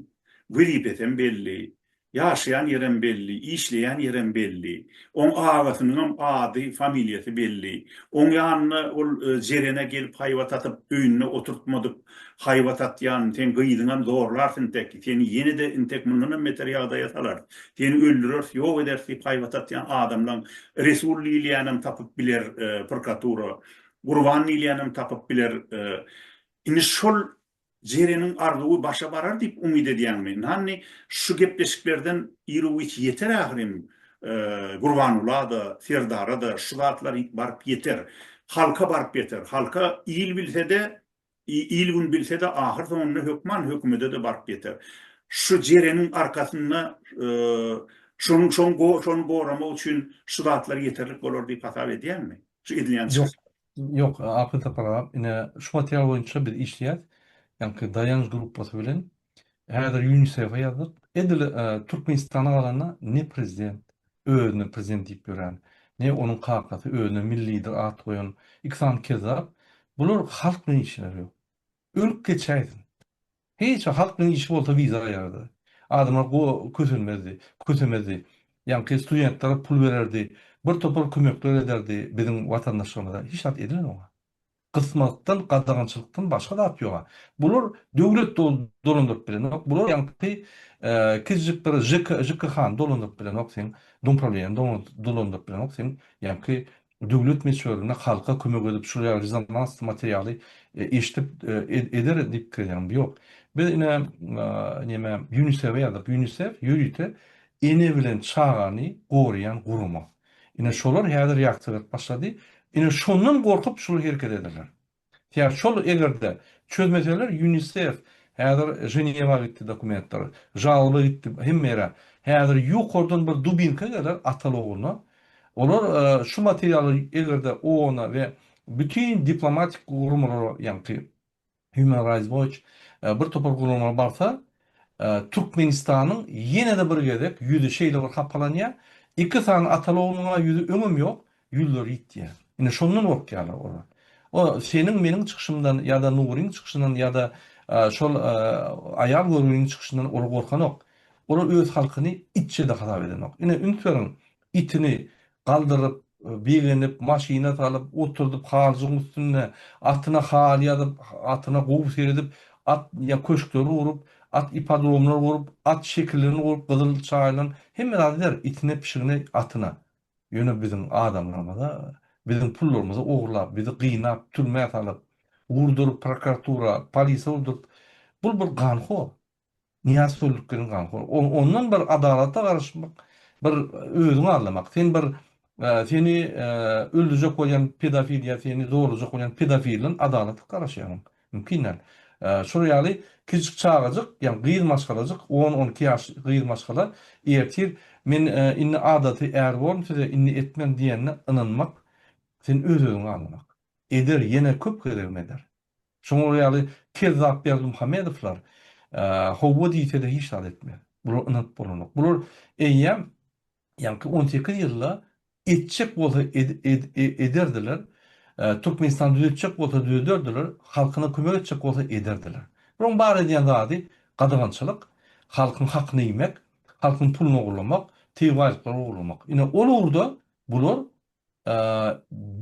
Speaker 1: wezipesem belli, ýaşaýan ýerem belli, işleýän ýerem belli. Oň agasynyňam ady, familiýasy belli. Oň ýanyna ol Jerene gelip haýbat atyp, öýünde oturtmadyk Haýbat atýan, seň gyzyňam zorlars intek, seni ýene-de intek mundanam beter ýagdaýa salarys, seni öldüreris, ýok ederis diýip haýbat atýan adamlaň Resul diýilýänem tapyp biler prkatura, Gurban diýilýänem tapyp biler. Indi şol Jereniň arzuwy başa barar diýip umyt edýäňmi? Nanni şu gepleşiklerden iruwiç ýeter ahyryn Gurbanula-da, Serdara-da şu zatlar baryp ýeter. Halka baryp ýeter. Halka il bilse-de, Il-gün bilse-de, ahyrsoňunda hökman hökümede-de baryp ýeter. Şu jereniň arkasynda şonuň şoň şony goramak üçin şu zatlar ýeterlik bolar diýip hasap edýäňmi? Şu edilýän çykyş. Ýok, Apyl Sapar aga, ine, şu material boýunça biz işleýäs. Ýaňky Daýanç grupbasy bilen. Häzir UNICEF-e ýazdyk. Edil Türkmenistana galanda ne prezident özüne prezident diýip ýören, ne onuň kakasy özüne milli lider at goýan. Iki sany kezzap. Bular halk bilen işleri ýok. Ölüp geçäýsin. Hiç wagt halk bilen işi bolsa wiza aýardy. Adamlar go kösenmezdi, kösemezdi. Ýaňky studentlere pul bererdi. Bir topar kömekler ederdi biziň watandaşlarymyza. Hiç zat edilen oňa. Gysmakdan, gadagançylykdan başga zat ýoga. Bular döwlet dolandyryp bilenok, bular ýaňky kizjikleri žk, žkh-ny dolandyryp bilenok seň, dumpravleniýäni dolandyryp bilenok seň, ýaňky döwlet meçörinde halka kömek edip şul ýaly rezonansly materialy eşdip eder diýip pikirlenýäňmi? Ýok. Biz ine neme Ýunisef-e ýazdyrdyk, Ýunisef ýörite ene bilen çagany goraýan gurama. Ine şolar häzir ýagtyrak başlady, ine şondan gorkup şul hereket ederler. Tä şol egerde çözmeseler Ýunisef häzir Ženewa gitdi dokumentler, žalba gitdi hemme ýere, häzir ýokardan bir dubinka geler ataly ogluna, olar şu materialy egerde OONa we bütin diplomatik guramalara ýaňky Human Rights Watch bir topar guramaga barsa, Türkmenistanyň ýene-de bir gezek ýüzi şeýle bir hapalanýar, Iki sany Atalognuň-a ýüzi öňem ýok, ýüzleri ýit diýýär. Indi şondan gorkýarlar olar. O seniň meniň çykyşymdan ýa-da Nuryň çykyşyndan ýa-da şol aýal görgüniň çykyşyndan olar gorkanok. Olar öz halkyny itje-de hasap edenok. Ine üns beriň, itini galdyryp, begenip, maşyna salyp, oturdyp, halyjygyň üstünde, atyna haly ýazyp, atyna gowy seredip, at ýa köşkleri gurup, at ipodromlary gurup, at şekillerini gurup, gyzyl çaýylan, hemme zady eder, itine, pişigine, atyna. Ýöne biziň adamlarymyza, biziň pullarymyzy ogurlap, bizi gynap, türmä salyp, urduryp, prokuratura, polise urduryp, bul bir ganhor. Nyýaz Töllükgelin ganhor. Ondan bir adalata garaşmak, bir özüňi arlamak. Sen bir seni öldürjek bolýan pedofil ýa seni zorlajak bolýan pedofilden adalat garaşýarmyň? Mümkin däl. Şol ýaly kiçijik çagajyk, ýagny gyz maşgalajyk, on, on iki ýaş gyz maşgala ertir men indi adaty är boldum, size indi etmem diýenine ynanmak, sen öz-özüňi arlamak. Eder, ýene köp gezegem eder. Şoňa ýaly kezzap Berdimuhamedowlar howwa diýse-de hiç zat etmez. Bular ynanyp bolanok. Bular eýýäm ýaňky on sekiz ýylda etjek bolsa ederdiler, Türkmenistany düzetjek bolsa düzederdiler, halkyna kömek etjek bolsa ederdiler. Bularyň bar edýän zady gadagançylyk, halkyň hakyny iýmek, halkyň puluny ogurlamak, tebigy baýlyklary ogurlamak. Ine ol ugurda bular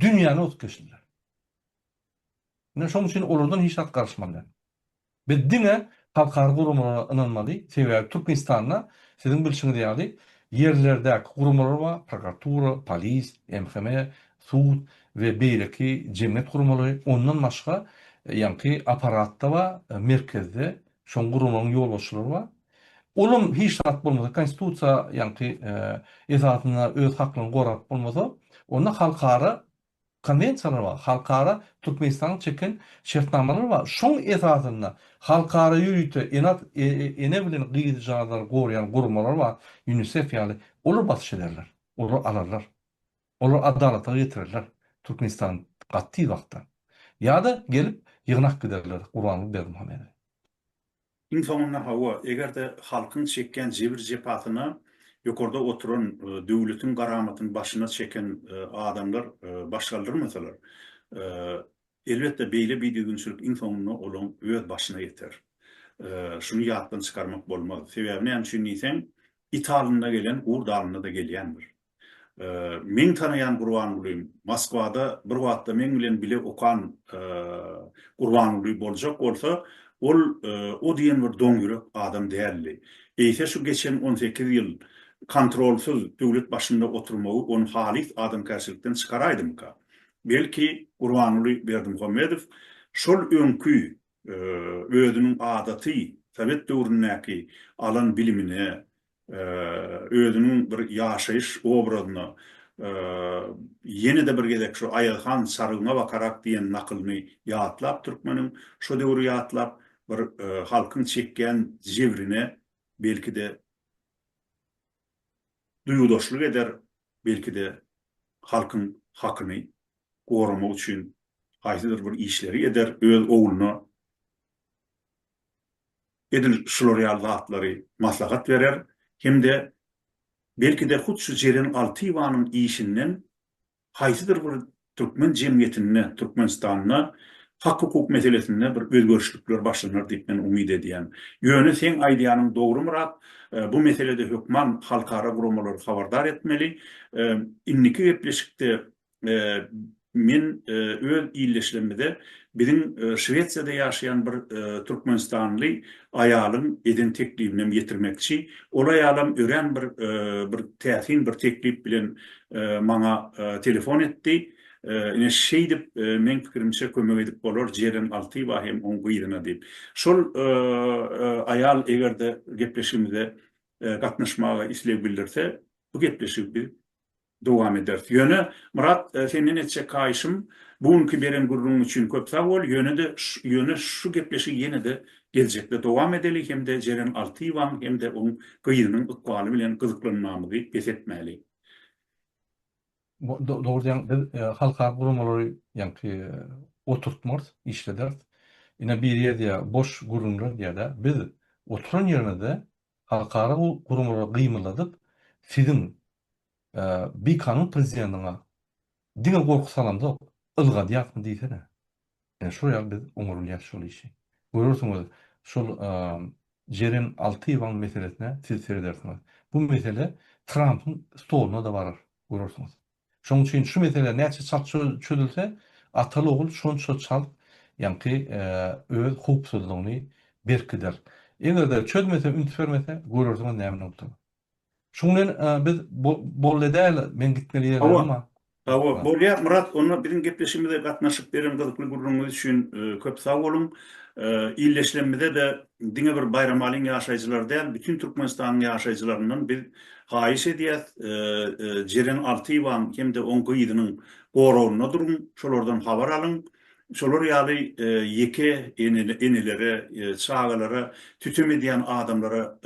Speaker 1: dünýäni bozup geçdiler. Ine, şonuň üçin olardan hiç zat garyşmaly däl. Biz diňe halkara guramalara ynanmaly, sebäbi Türkmenistanda, siziň bilşiňiz ýaly, ýerlerdäki guramalar bar, prokuratura, polis, MHM, sud we beýleki jemgyýet guramalary, ondan başga, ýaňky apparatda bar, merkezde, şoň guramalaryň ýolbaşçylary bar. Olam hiç zat bolmasa, Konstitusiýa, ýaňky, esasynda öz haklaryny gorap bolmasa, onda halkara Konwensiýalar bar, halkara Türkmenistanyň çeken şertnamalary bar. Şoň esasynda halkara ýörite ene bilen gyzjagazlary goraýan guramalar bar, Ýunisef ýaly. Olar basyş ederler. Olar alarlar. Olar adalata getirerler Türkmenistany gaty tiz wagtda. Ýa-da gelip ýygnap giderler Gurbanguly Berdimuhamedi. Iň soňunda hawa, eger-de halkyň çekýän jebir-jepasyna ýokarda oturan döwletiň garamatyny başyna çeken adamlar baş galdyrmasalar, elbetde beýle bidüzgünçilik iň soňunda olaň öz başyna ýeter. Şuny ýatdan çykarmak bolmaz. Sebäbi näme üçin diýseň, it alynda gelen gurt alynda-da gelýändir. Meň tanaýan Gurbangulim, Moskwada bir wagtda meň bilen bile okan Gurbanguly boljak bolsa, ol o diýen bir doňýürek adam däldi. Eýse şu geçen on sekiz ýyl kontrolsyz döwlet başynda oturmagy ony halys adamkärçilikden çykaraýdymyka? Belki, Gurbanguly Berdimuhamedow şol öňki özüniň adaty sowet döwründäki alan bilimine, özüniň bir ýaşaýyş obrazyna ýene-de bir gezek şu Aýazhan Sarygyňa bakarak diýen nakylyny ýatlap türkmeniň, şo döwri ýatlap bir halkyň çekýän jebrine belki-de duýgudaşlyk eder, belki-de halkyň hakyny goramak üçin haýsydyr bir işleri eder, öz ogluna edil şular ýaly zatlary maslahat berer hem-de belki-de hut şu Jeren Altyýewanyň işinden haýsydyr bir türkmen jemgyýetinde, Türkmenistanda hak-hukuk meselesinde bir özgerişlikler başlanar diýip men umyt edýän. Ýöne seň aýdýanyň dogry Myrat, bu meselede hökman halkara guramalary habardar etmeli. Indiki gepleşikde Men öz ildeşlerimize biziň Şwesiýada ýaşaýan bir türkmenistanly aýalyň eden teklibinem ýetirmekçi. Ol aýalam örän bir bir täsin bir teklip bilen maňa telefon etdi. Ine, şeýdip, meň pikirimçe kömek edip bolar Jeren Altyýewa hem oň gyzyna diýip. Şol aýal eger-de gepleşigimize gatnaşmaga isleg bildirse, bu gepleşigi biz Dowam ederis. Ýöne, Myrat, senden etjek haýyşym, bu günki beren gürrüňiň üçin köp sag bol, ýöne-de ýöne şu gepleşigi ýene-de geljekde dowam edeli hem-de Jeren Altyýewaň hem-de oň gyzynyň ykbaly bilen gyzyklanmamyzy bes etmäli. Dogry diýýäň, biz halkara guramalary ýaňky oturtmarys, işlederis. Ine biri ýazýar, boş gürrüňler diýýär-de, biz oturan ýerimizde halkara guramalara gymylladyp, siziň bikanun prezidentiňa diňe gorky salamzok, ylgadýarsyň diýsene. Ine şol ýaly biz oňarylýas şol işi. Görersiňiz, şol Jeren Altyýewaň meselesine siz seredersiňiz. Bu mesele Trampyň stoluna-da barar, görersiňiz. Şonuň üçin şu mesele näçe çalt çözülse, ataly-ogul şonça çalt ýaňky öz howpsuzlygyny berkider. Eger-de çözmese, üns bermese, görersiňiz näme boljakdygyny. Şuň bilen biz boldy däl meň gitmeli ýerlerim bar. Hawa, bolýar Myrat, onda biziň gepleşigimize gatnaşyp beren gyzykly gürrüňiňiz üçin köp sag boluň. Illeşlemimize-de diňe bir Baýramalyň ýaşaýjylary däl, bütin Türkmenistanyň ýaşaýjylaryndan biz haýyş edýäs, Jeren Altyýewanyň hem-de oň gyzynyň goragynda duruň, şolardan habar alyň. Şolar ýaly ýeke enelere, çagalara sütem edýän adamlara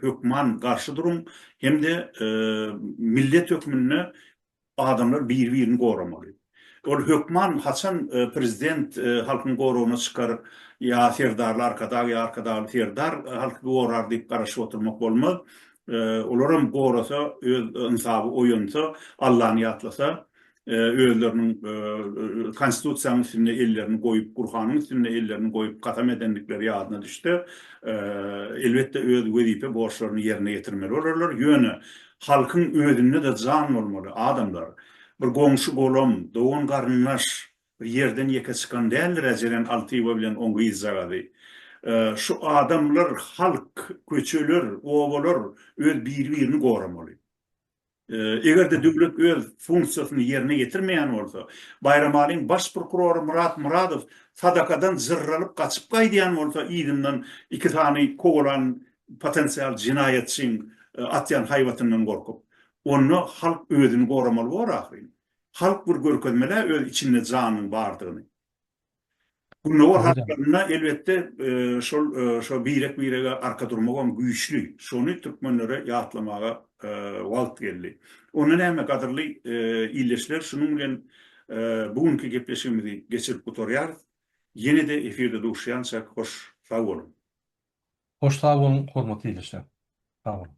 Speaker 1: hökman garşy duruň hem-de millet hökmünde adamlar biri-birini goramaly. Ol hökman haçan prezident halkyň goragyna çykar ýa Serdarly Arkadag ýa Arkadagly Serdar halky gorar diýip garaşyp oturmak bolmaz. Olaram gorasa, öz ynsaby oýansa, Allany ýatlasa, özleriniň Konstitusiýanyň üstünde ellerini goýup, Gurhanyň üstünde ellerini goýup kasam edendikleri ýadyna düşse, elbetde, öz wezipe borçlaryny ýerine ýetirmeli bolarlar. Ýöne halkyň özünde-de jan bolmaly, adamlar. Bir goňşy-golam, dogan-garyndaş bir ýerden ýeke çykan däldir-ä Jeren Altyýewa bilen oň gyzjagazy. Şu adamlar, halk, köçeler, obalar öz biri-birini goramaly. Eger-de döwlet öz funksiýasyny ýerine ýetirmeýän bolsa, Baýramalyň baş prokurory Myrat Myradow sadakadan jyrralyp gaçyp gaýdýan bolsa, yzyndan iki sany kowalan potensial jenaýatçyň atýan haýbatyndan gorkup, onda halk özüni goramaly bor ahyryn. Halk bir görkezmeli-ä öz içinde janyň bardygyny. Gündogar halklarynda elbetde şol şo birek birege arka durmagam güýçli. Şony türkmenlere ýatlamaga wagt geldi. Onda näme gadyrly ildeşler şunuň bilen bu günki gepleşigimizi geçirip gutarýarys. Ýene-de efirde duşýança hoş sag boluň. Hoş sag boluň hormatly ildeşler. Sag boluň.